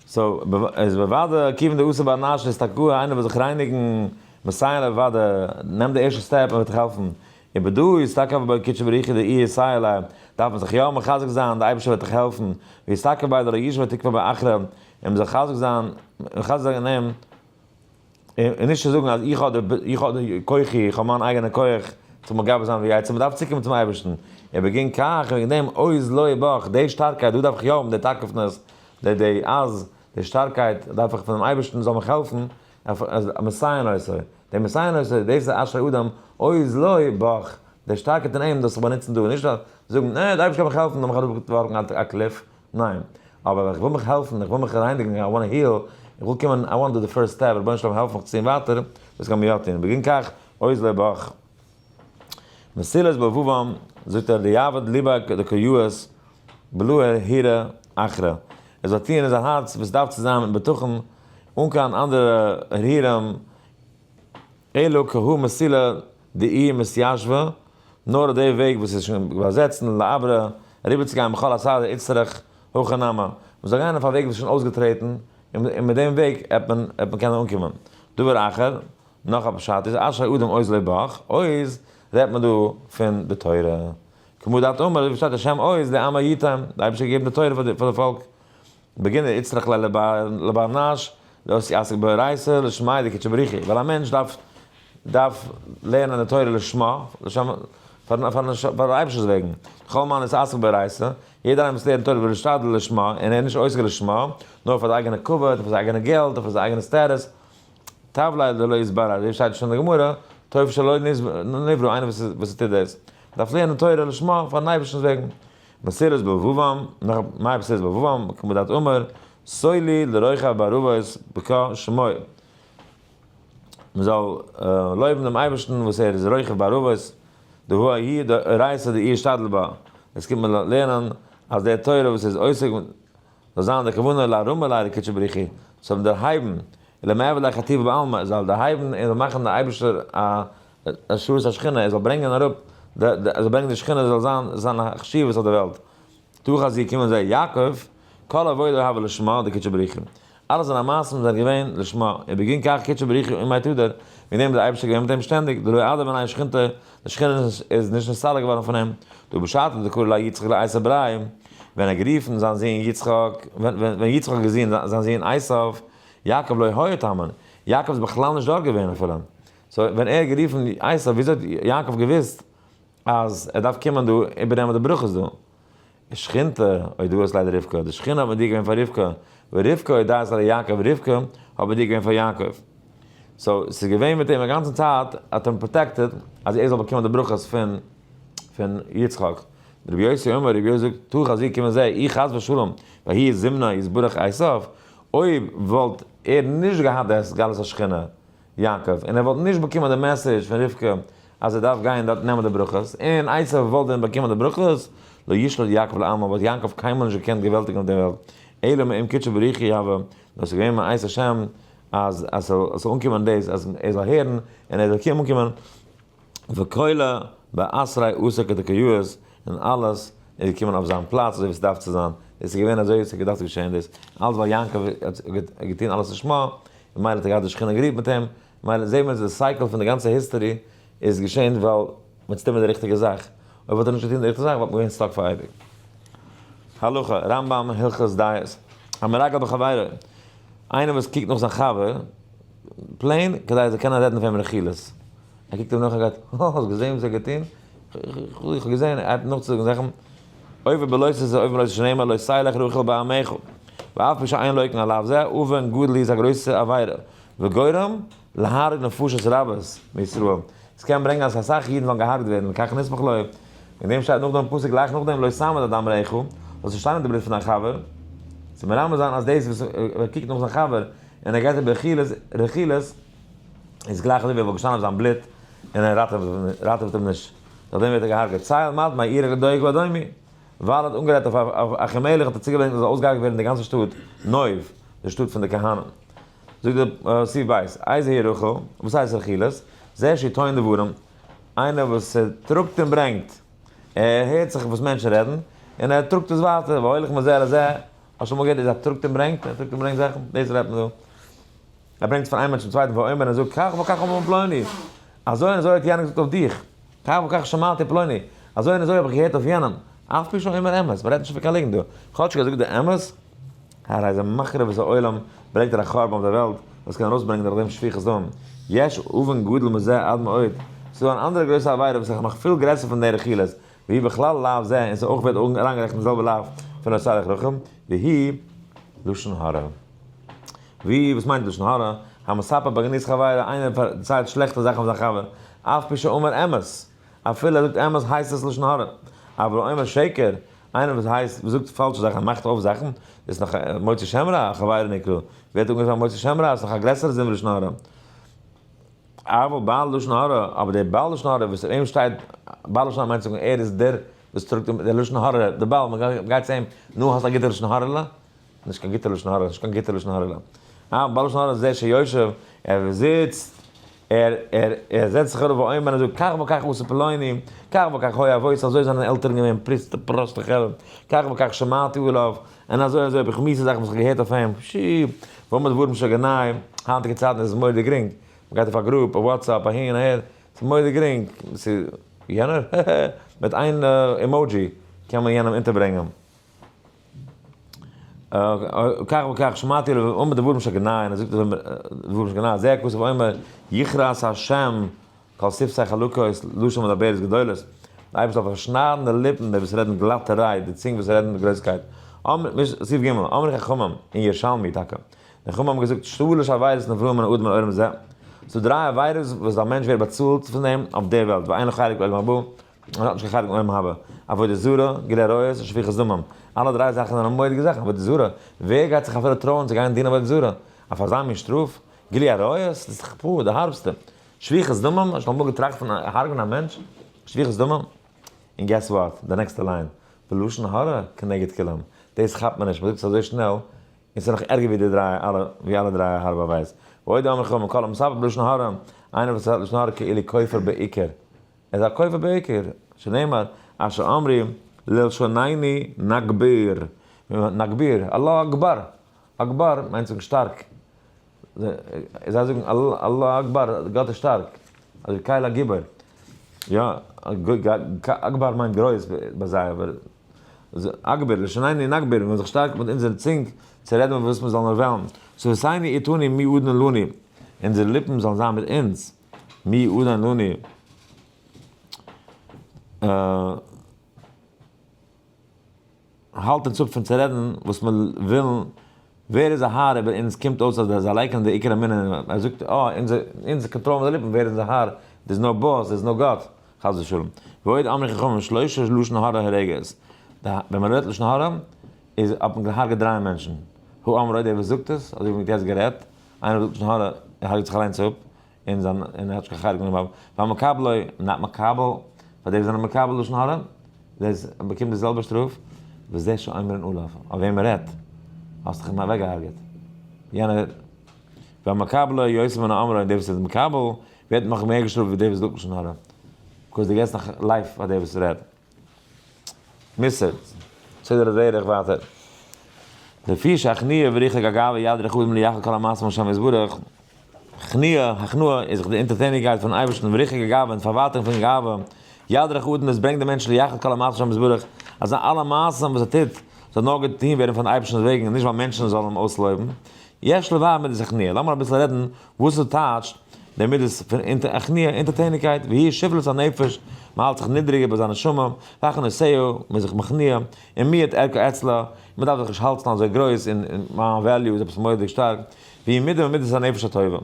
[SPEAKER 1] סאו, איז בוודאי כיוון דעושה באנשים איז טאקע איינער וויל זיך רייניגן, מסייעין אוודאי, נעם די ערשטע סטעפ מען וועט דיך העלפן, און בי ד איז טאקע אויף בעקיטשע בריחי די אי ישראלי דארף מען זיך יא מחזק זיין די אייבערשטער וועט דיך העלפן ווי איז טאקע ביי די ר' ישמעאל תקפא באחרא און מזחזק זיין מחזק זיין אין אים און נישט זאגן אז איך האב די איך האב די כוחי איך האב מיין אייגענע כח איך זאל מגבה זיין ווי עצם מ'דארף צוקומען צום אייבערשטן און וועגין כך וועגן דעם עוז לוי בך די שטארקייט דא דארף איך יא האבן די תקפנות די די אז די שטארקייט דארף איך פונעם אייבערשטן זאל מיך העלפן א מסייע נושא, דער מסייע נושא, דאס איז אשרי אדם, אוי איז לו, בח, דער שטארקער טון אים דאס זיך באנוצן דא, נישט זאגן, נע, דער אייבערשטער קען מיך העלפן, דארף איך אראפווארפן א קליף, ניין, אבער איך וויל מיך העלפן, איך וויל מיך רייניגן, איי וואנט היל, איך וויל קומען, איי וואנט דא די פירסט סטעפ, רבונו של עולם העלף מיך צוהן ווייטער, דאס קען מען יא טון, בגין כך, אוי איז לו, בח. מסילת באבובם זאגט ער די יאבד ליבק די כיאות בלוה הירא אחרא עס זאל טוען אין זיין הארץ וואס דארף צו זיין אין בטחון אן קיין אנדערע הרהורים אלא כהאי מסילא דאי מתיישבא נאר די וועג וואס איז שוין באזעצט און לעברא אריבערצוגיין בכל הסדר איצטרך הכא נמי מען זאל גיין אויף א וועג וואס איז שוין אויסגעטרעטן און מיט דעם וועג עט מען קענען אנקומען דבר אחר. נאך א פשט איז אשרי אדם עוז לב בך, עוז רעדט מען דא פון די תורה, כמו דעת אמר אזוי ווי שטייט השם עוז לעמו יתן, די אייבערשטער האט געגעבן די תורה פאר די פאלק, בגין דער יצטרך ליה לבר נש להיות עסוק באורייתא לשמה דקדשי בריחי, ווייל א מענטש דארף דארף לערנען די תורה לשמה, לשם פאר פאר דער אייבערשטער'ס וועגן, כל מאן איז עסוק באורייתא, יעדער איינער וואס לערנט תורה ווערט משתדל לשמה, און ער איז נישט עוסק לשמה, נאר פאר די אייגענע כבוד, פאר זיין אייגענע געלט, און פאר זיין אייגענע סטעטוס. טב ליה דלא יסבר אזוי שטייט שוין אין די גמרא, טוב שלא נברא, איינער וואס טוט דאס דארף לערנען תורה לשמה פארן אייבערשטנ'ס וועגן, מסירות באבובם, נאך מהאי מסירות באבובם, כמו דאתו אמר, סוי לי לרוחב בארובות בקע שמור, מען זאל לויבן דעם אייבערשטן וואס ער איז רוחב בארובות, דהוי הי' דאורייתא דאי ישתדל בה, דאס קומט מען לערנען אז די תורה וואס ער איז עוסק, זאל זיין די כוונה להרמה לידי קודשא בריך הוא, זאל אים דערהייבן, אלא מאי אולי חטיב בעלמא, ער זאל דערהייבן און זאל מאכן די אייבערשטער א השראת השכינה, ער זאל ברענגען אראפ די ער זאל ברענגען די שכינה זאל זיין זיין חשיבות אויף די וועלט, תוך אז זי קומען זיי יעקב, כל עבודה הוה לשמה די קודשא בריך הוא, אלע זיינע מעשים זענען געווען לשמה, ובגין כך קודשא בריך הוא ומאי תדר, וועגן דעם איז דער אייבערשטער געווען מיט אים שטענדיג, דלא עדה בעניי שכינתא, די שכינה איז נישט נסתלק געווארן פון אים, דא בשעתו דקרא ליה יצחק ליה עשיו בריי, ווען ער האט גערופן זיין זון יצחק, ווען יצחק האט געזען זיין זון עשיו, יעקב לא היה טמן, יעקב איז בכלל נישט דארט געווען אפילו, סאו ווען ער האט גערופן עשיו וויאזוי האט יעקב געוואוסט אז ער דארף קומען דא איבערנעמען די ברכות דא? די שכינתא, אוי דו האסט ליידער רבקה, די שכינה האט מיט דיר געווען פאר רבקה, ורבקה הודאה אצל יעקב ורבקה האט מיט דיר געווען פאר יעקב. סאו ס'איז געווען מיט אים א גאנצע צייט, האט אים פראטעקטעד אז ער זאל באקומען די ברכות פון פון יצחק. דרבי יוסי אומר, רבי יוסי זאגט, טא חזיר קומען זיי, אי חס ושלום, והי' זימנה יתברך עשיו, אויב וואלט ער נישט געהאט די הסגלת השכינה, יעקב, און ער וואלט נישט באקומען די מעסעדזש פון רבקה אז ער דארף גיין דארט נעמען די ברכות, און עשו וואלט ווען באקומען די ברכות, לא ישלוט יעקב לעלמא, וואלט יעקב קיינמאל נישט געקענט געוועלטיגן אויף דער וועלט, אלא מאם קדשו בריחו יהוה, נאר ס'איז געווען מאת השם אז עס זאל אנקומען דאס אז ער זאל הערן און ער זאל קומען אנקומען. וקולא באסריי עשה כדקויאוס און אלעס איז געקומען אויף זיין פלאץ אזוי ווי ס'דארף צו זיין, עס איז געווען אזוי ווי ס'האט געדארפט געשען דאס, אלעס ווייל יעקב האט געטון אלעס לשמה, און מילא האט ער געהאט די שכינה גערורט מיט אים, מילא זעהן מיר אז די סייקל פון די גאנצע היסטערי איז געשען ווייל מ'האט צוטון מיט די ריכטיגע זאך, אויב וואלט ער נישט געטון די ריכטיגע זאך וואלט מען געווען סטאק פאר אייביג. הלכה, רמב ם הלכות דיעות, המרגל בחבירו, איינער וואס קוקט נאך זיין חבר, פלעין כדי זיי קענען רעדן אויף אים רכילות. ער קוקט אים נאך און גייט, הא, האסט געזעהן וואס ער האט געטוהן? איך האב געזעהן, ער הייבט נאכצוזאגן זאכן, אויבן בלא עשה זה אויבן בלא עשה שנאמר לא עשה לך רחל בעמיך, ואף פי שאין לויקן עליו זה, אבן גודל איז א גרויסע עבירה, וגורם להרג נפשות רבות מישראל, עס קען ברענגען אז אסאך אידן וועלן געהארגט ווערן, וכך נסמך לוי, וועגן דעם שטייט נאכדעם פסוק גלייך נאכדעם לא שם את הדם רעך, זאלסט נישט שטיינען די בלוט פון דיין חבר, צו מרמז זיין אז דאס וואס ער קוקט נאך זיין חבר, און ער גייט אריבער רכילות, רכילות איז גלייך אזוי ווי ער וואלט געשטאנען אויף זיין בלוט און ער ראטעוועט, ראטעוועט אים נישט, נאכדעם ווערט ער געהארגעט, צייל מד מ עירך לדאוג ואדוני, ווייל ער האט אנגערייט אויף אויף אחימלך האט ער צוגעברענגט אז עס זאל אויסגעהארגעט ווערן די גאנצע שטאט נוב, די שטאט פון די כהנים. זאגט דער סעיף ב', איז היא רחל, וואס הייסט רכילות, זה שהיא טוען דברים, איינער וואס טראגט און ברענגט, ער הערט זיך וואס מענטשן רעדן, און ער טראגט עס ווייטער, והולך מזה לזה. האסט שוין אמאל געהערט דאס אז ער טראגט און ברענגט? ער טראגט און ברענגט זאכן? דאס רעדט מען דא. ער ברענגט פון איין מענטש צום צווייטן ואומר און ער זאגט כך וכך אמר פלוני. אזוי און אזוי האט יענער געזאגט אויף דיך. כך וכך שמעתי פלוני. אזוי און אזוי האב איך געהערט אויף יענעם. אף פי שאומר אמת. מ'רעדט נישט פון קיין ליגנט דא. כאטש ער האט געזאגט די אמת. הא רייזע מחריב את העולם, ברענגט ער א חורבן אויף דער וועלט, וואס קען ארויסברענגען נאך דעם שפיכות דם. יש אבן גדול מזה עד מאוד. ס'איז דא אן אנדערע גרויסע עבירה וואס איז נאך פיל גרעסער פון די רכילות. ווי בכלל לאו זה און ס'אויך ווערט אריינגערעכנט אין די זעלבע לאו פון עושה עליך רחם, והיא לשון הרע. ווי וואס מיינט לשון הרע? המספר בגנות חברו, איינער פארציילט שלעכטע זאכן פון זיין חבר, אף פי שאומר אמת, אפילו ער זאגט אמת הייסט עס לשון הרע. אבל האומר שקר, איינער וואס הייסט וואס זאגט פאלשע זאכן און מאכט אויף זאכן, איז נאך מוציא שם רע, חברו נקרא, ווערט אנגערופן א מוציא שם רע, ס'איז נאך א גרעסערע זון ווי לשון הרע. אבל בעל לשון הרע, אבער דער בעל לשון הרע וואס אויף אים שטייט, בעל לשון הרע מיינט צו זאגן ער איז דער וואס טראגט דער לשון הרע, דער בעל, מען גייט צו אים, נו האסט א גוטע לשון הרע'לע? נישט קיין גוטע לשון הרע, נישט קיין גוטע לשון הרע'לע. אבל בעל לשון הרע איז דער שיושב, ער זיצט, ער, ער, ער זעצט זיך אראפ ואומר, און זאגט, כך וכך עשה פלוני, כך וכך היה אבות, אזוי זענען עלטערן געווען, פריצטע, פראסטע כעלעם, כך וכך שמעתי עליו, און אזוי אזוי האב איך מיסע זאכן וואס איך האב געהערט אויף אים, שי', וואו מיט ווארום שוין געניי, היינטיגע צייטן איז עס מורא'דיג גרינג, מען גייט אויף א גרופ, אויף וואטסעפפ, אהין אהער, ס'איז מורא'דיג גרינג, ס'איז יענער, הע הע, מיט איין אימאודזשי קען מען יענעם אונטערברענגען. כך וכך שמעתי עליו וואו מיט ווארום שוין געניי, און ער זאגט אז ווארום שוין געניי, זעה הכסף אומר, יכרעת השם כל שפתי חלקות, לשון מדברת גדולות, דער אייבערשטער זאל פארשניידן די ליפן, די וואס רעדן גלאטע רייד, די צונג וואס רעדן מיט גרויסקייט, אמ ר, סעיף ג', אמרו די חכמים, אין ירשלמי טאקע, די חכמים האבן געזאגט, שלש עבירות נברא מן האדם לעולם זה, ס'דא דריי עבירות וואס דער מענטש ווערט באצאלט פון דעם אויף דער וועלט, ואין לו חלק בעולם הבא, און ער האט נישט קיין חלק אין עולם הבא, עבודה זרה, גילוי עריות, און שפיכת דמים, אלע דריי זאכן זענען מורא'דיגע זאכן, עבודה זרה, ווער גייט זיך אפילו טרויען צו גיין דינען עבודה זרה, אויף אזא מין שטראף? גילוי עריות, דאס איז דאך פאר די הארבסטע, שפיכת דמים? האסט שוין אמאל געטראכט פון הרג'נען א מענטש? שפיכת דמים? און געס וואט? די נעקסטע ליין, ולשון הרע כנגד כולם, דאס כאפט מען נישט, מ'זאגט עס אזוי שנעל, און ס'איז נאך ערגער ווי די דריי אלע, ווי אלע דריי הארבע וועיס. ועוד אמר חו מכל המספר בלשון הרע, איינער וואס האט לשון הרע כאילו כופר בעיקר, ער איז א כופר בעיקר, שנאמר, אשר אמרי ללשוניני נגביר, נגביר, אללא אקבאר, אקבאר מיינט זאגן שטארק, זיי זאגן אללה אקבאר, גאט איז שטארק, אדער קהל הגיבור, יא, אקבאר מיינט גרויס ביי זיי, אבער אגביר, לשון עיני נגביר, מיר וועלן זיך שטארקן מיט אונזערע צונג צו רעדן מיט וואס מיר זאלן וועלן, שפתינו איתני מי אדני לנו, אונזערע ליפן זאלן זיין מיט אונז, מי אדני לנו, אה. האלט אונז אפ פון צו רעדן וואס מיר ווילן, ווער איז א האר איבער אונז, קומט אויס אז זיי לייקענען די עיקר אמונה אין אים, ער זאגט אה אונז קאנטראלן אונזער ליפן, ווער איז אונזער האר, דער איז נאר באס, דער איז נאר גאט, חס ושלום, ועוד אמרי חכמים שלושה לשון הרע הורגת, ווען מען רעדט לשון הרע איז האט מען געהארגעט דריי מענטשן, הוא אמרו דער וואס זאגט עס, אזוי ווי מען האט יעצט גערעדט, איינער וואס זאגט לשון הרע ער הרג'ט זיך אליינס אפ, און זיין און ער האט נישט קיין חלק גענומען ביי והמקבלו נאט מקבל, פאר די וואס זענען מקבל לשון הרע, דער באקומט די זעלבע שטראף, וזה שאומרין עליו, אויף וועם מען רעדט, האסט דיך אים אוועק געהארגעט, יענער והמקבלו יותר מן האומרו, און דער וואס איז מקבל ווערט נאך מער געשטראפט ווי דער וואס זאגט לשון הרע, בקוז דו געבסט נאך לייף פאר דער וואס רעדט. מוסר, סדר הדרך ווייטער. לפי שהכניעה וריחוק הגאווה יד רחבים ליחד כל המעשים לשם יתברך, כניעה, הכנעה, איז זיך די אונטערטעניגקייט פונעם אייבערשטן וריחוק הגאווה און די פארווייטונג פון גאווה, יד רחבים דאס ברענגט דעם מענטש ליחד כל המעשים לשם יתברך, אז זיינע אלע מעשים וואס ער טוט זאל נאר געטון ווערן פארן אייבערשטנ'ס וועגן און נישט ווייל מענטשן זאלן אים אויסלויבן, יש לברר מידת הכניעה, לאמיר אביסל רעדן וואס עס טייטשט, די מידות פון אכנעה, אונטערטעניקייט, והיא שפלות הנפש, מען האלט זיך נידריג איבער זיין נשמה, והכנעה סאה, מען איז זיך מכניע, און מי את ערכו אצלה, און מען דארף זיך נישט האלטן אזוי גרויס, און מיין וועליו איז עפעס מורא'דיג שטארק, והיא מידה ממידות הנפש הטובה.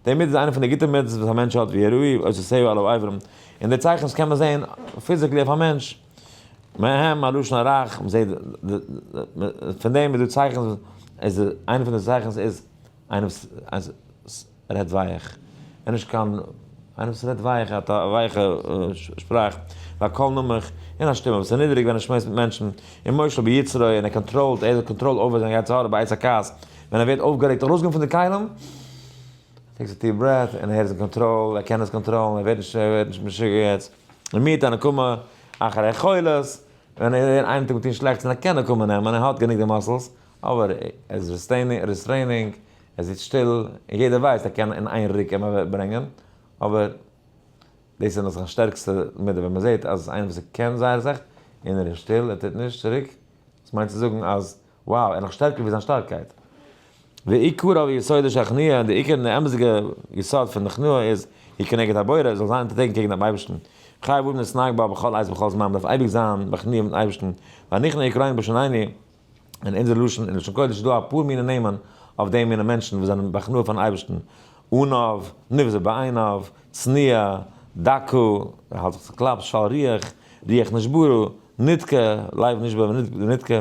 [SPEAKER 1] די מידה איז איינע פון די גוטע מידות וואס א מענטש האט, והיא ראי' עושה סאה על העוברים, און די צייכנס קען מען זען פיזיקלי אויף א מענטש, מהם הלשון הרך, מען זעט, פון דעם איז דא צייכנס, איז איינע פון די צייכנס איז. איינער וואס רעדט ווייעך, און נישט קיין איינער וואס רעדט ווייעך, האט א ווייכע שפראך, א קול נמוך, און א שטימע וואס איז נידעריג ווען ער שמועסט מיט מענטשן, און מושל ביצרו, און ער קאנטראלט, ער האט קאנטראל אויבער זיין יצר הרע בעת הכעס, ווען ער ווערט אויפגערעגט, ארויסגעבן פון די כלים, טעיקס א דיעפ ברעט, און ער איז אין קאנטראל, ער קען עס קאנטראלן, ער ווערט נישט משוגע יעצט, און מיעט א נקמה אחרי חולת, ווען ער איז איינער טוט אים שלעכטס און ער קען נקמה נעמען, ער האט גענוג די מאסעלס. אבער ער איז ריסטרעינינג, ער זיצט שטיל, און יעדער ווייסט ער קען אין איין רוק אים אוועקברענגען, אבער דאס איז נאך זיין שטערקסטע מידה, ווען מען זעט אז איינער וואס ער קען זייער סאך, און ער איז שטיל, ער טוט נישט צוריק, דאס מיינט צו זאגן אז wow, ער איז נאך שטערקער ווי זיין שטארקייט. ועיקרא ויסודא של הכנעה, און די עיקר און די אמת'דיגע יסוד פון די כנעה איז, היא כנגד הבורא, זאל זיין אונטערטעקן קעגן דעם אייבערשטן, חייב אבן להתנהג בה בכל עת ובכל זמן, מען דארף אייביג זיין מכניע מיטן אייבערשטן, והנכנע יקראין בשנני, אין אונזער לשון אין לשון קודש איז דא אפאר מיני נעמען אויף די מיני מענטשן וואס זענען בהכנעה פארן אייבערשטן, ענוו, נבזה בעיניו, צניעה, דקה, ער האלט זיך צו קלאפ, של ריח, ריח נשברו, נדקה, לייב נשבר ונדקה,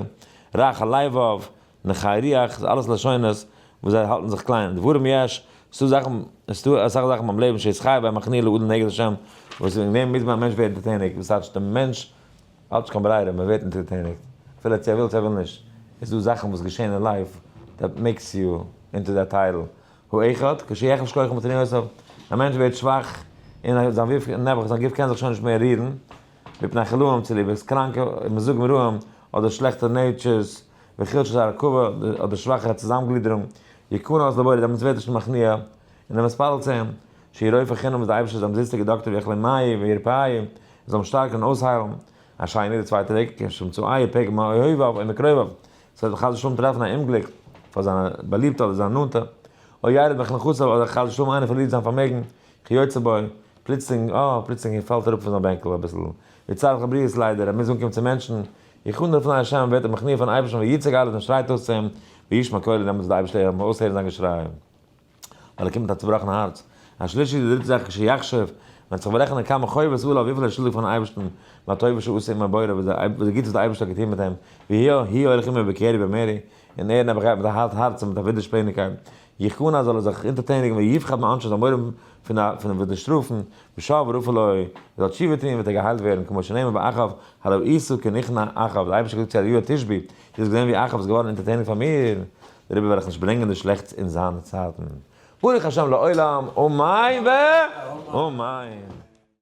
[SPEAKER 1] רך הלבב, נקי ריח, ס'איז אלעס לשונות וואס זיי האלטן זיך קליין, דברים יש, ס'דא זאכן, ס'דא אסאך זאכן ביים לעבן שיש חי בהם הכנעה לאדם נגד השם, וואס אין דעם מוז מען א מענטש ווערן טוטעניק, וואס טייטש די מענטש האטס קיין ברירה, מען ווערט אינטערטעניגט אפילו צו ער וויל צו ער וויל נישט, איז דא זאכן וואס געשעהן אין לייף דעט מעיקס יו אינטו דעט טייטל, האחד, כשיחלש כוחו מתניעותיו, א מענטש ווערט שוואך און זיין וו ו נעבעך זיין גוף קען זיך שוין נישט מער רירן, מפני חלאים צוליב עס קראנקע מזגים רעים אדער שלעכטע נעיטשערס, וחלשת הרכבה אדער שוואכע צוזאמגלידערונג, יקנא את לבורא דעמאלטס ווערט ער שוין מכניע און ער מיספאלט צו אים, שיהיה רופא חינם אז די אייבערשטער זאל אומזיסטיגע דאקטער ווי אכלי מאיר ווי רפאי און זאל אים שטארקן און אויסהיילן א שיינע יעדע צווייטע וועג כ ש צו איה פ ג מאוהביו און מקרוביו ס'זאל אים חס ושלום טרעפן א אומגליק פאר זיינע באליבטע אדער זיינע נאנטע או ירד מעל נכסיו אדער חס ושלום איינער פארלירט זיין פארמעגן כיוצא בו פלוצלינג אה פלוצלינג ער פאלט אראפ פון זיין בענקל אביסל ווי צער כל הבריות ליידער ער מוז אנקומען צו מענטשן איך אנדער פני השם און ווערט ער מכניע פארן אייבערשטן ויצעק אלעס און שרייט אויס צו אים וישמע קולו דעמאלטס וועט די אייבערשטער הערן אויסהערן זיין געשריי. ווייל ער קומט מיט א צובראכן הארץ, השלישי די דריטע זאך כשיחשב, ווען זיך בארעכענען כמה חובות עליו וויפיל ער איז שולדיג פארן אייבערשטן, והטובה שעשה עמו הבורא וואס די גוטס וואס דער אייבערשטער האט געטון מיט אים, והיה הי' הולך עמו בקרי במרי, און ער נעבעך גייט מיט א הארט הארץ און מיט א ווידערשפעניגקייט, יכנע זאל ער זיך אונטערטעניגן ויפחד מעונשו זאל מורא האבן פון וואס די שטראפן, ושב ורפא לו, ער זאל תשובה טון וועט ער געהיילט ווערן, כמו שנאמר ביי אחאב, הלא עשו כן נכנע אחאב, דער אייבערשטער האט געזאגט צו אליהו התשבי, דו האסט געזען ווי אחאב איז געווארן אונטערטעניגט פאר מיר, דער רבי וועל איך נישט ברענגען די שלעכטס אין זיינע צייטן, ברוך השם לעולם אמן ואמן.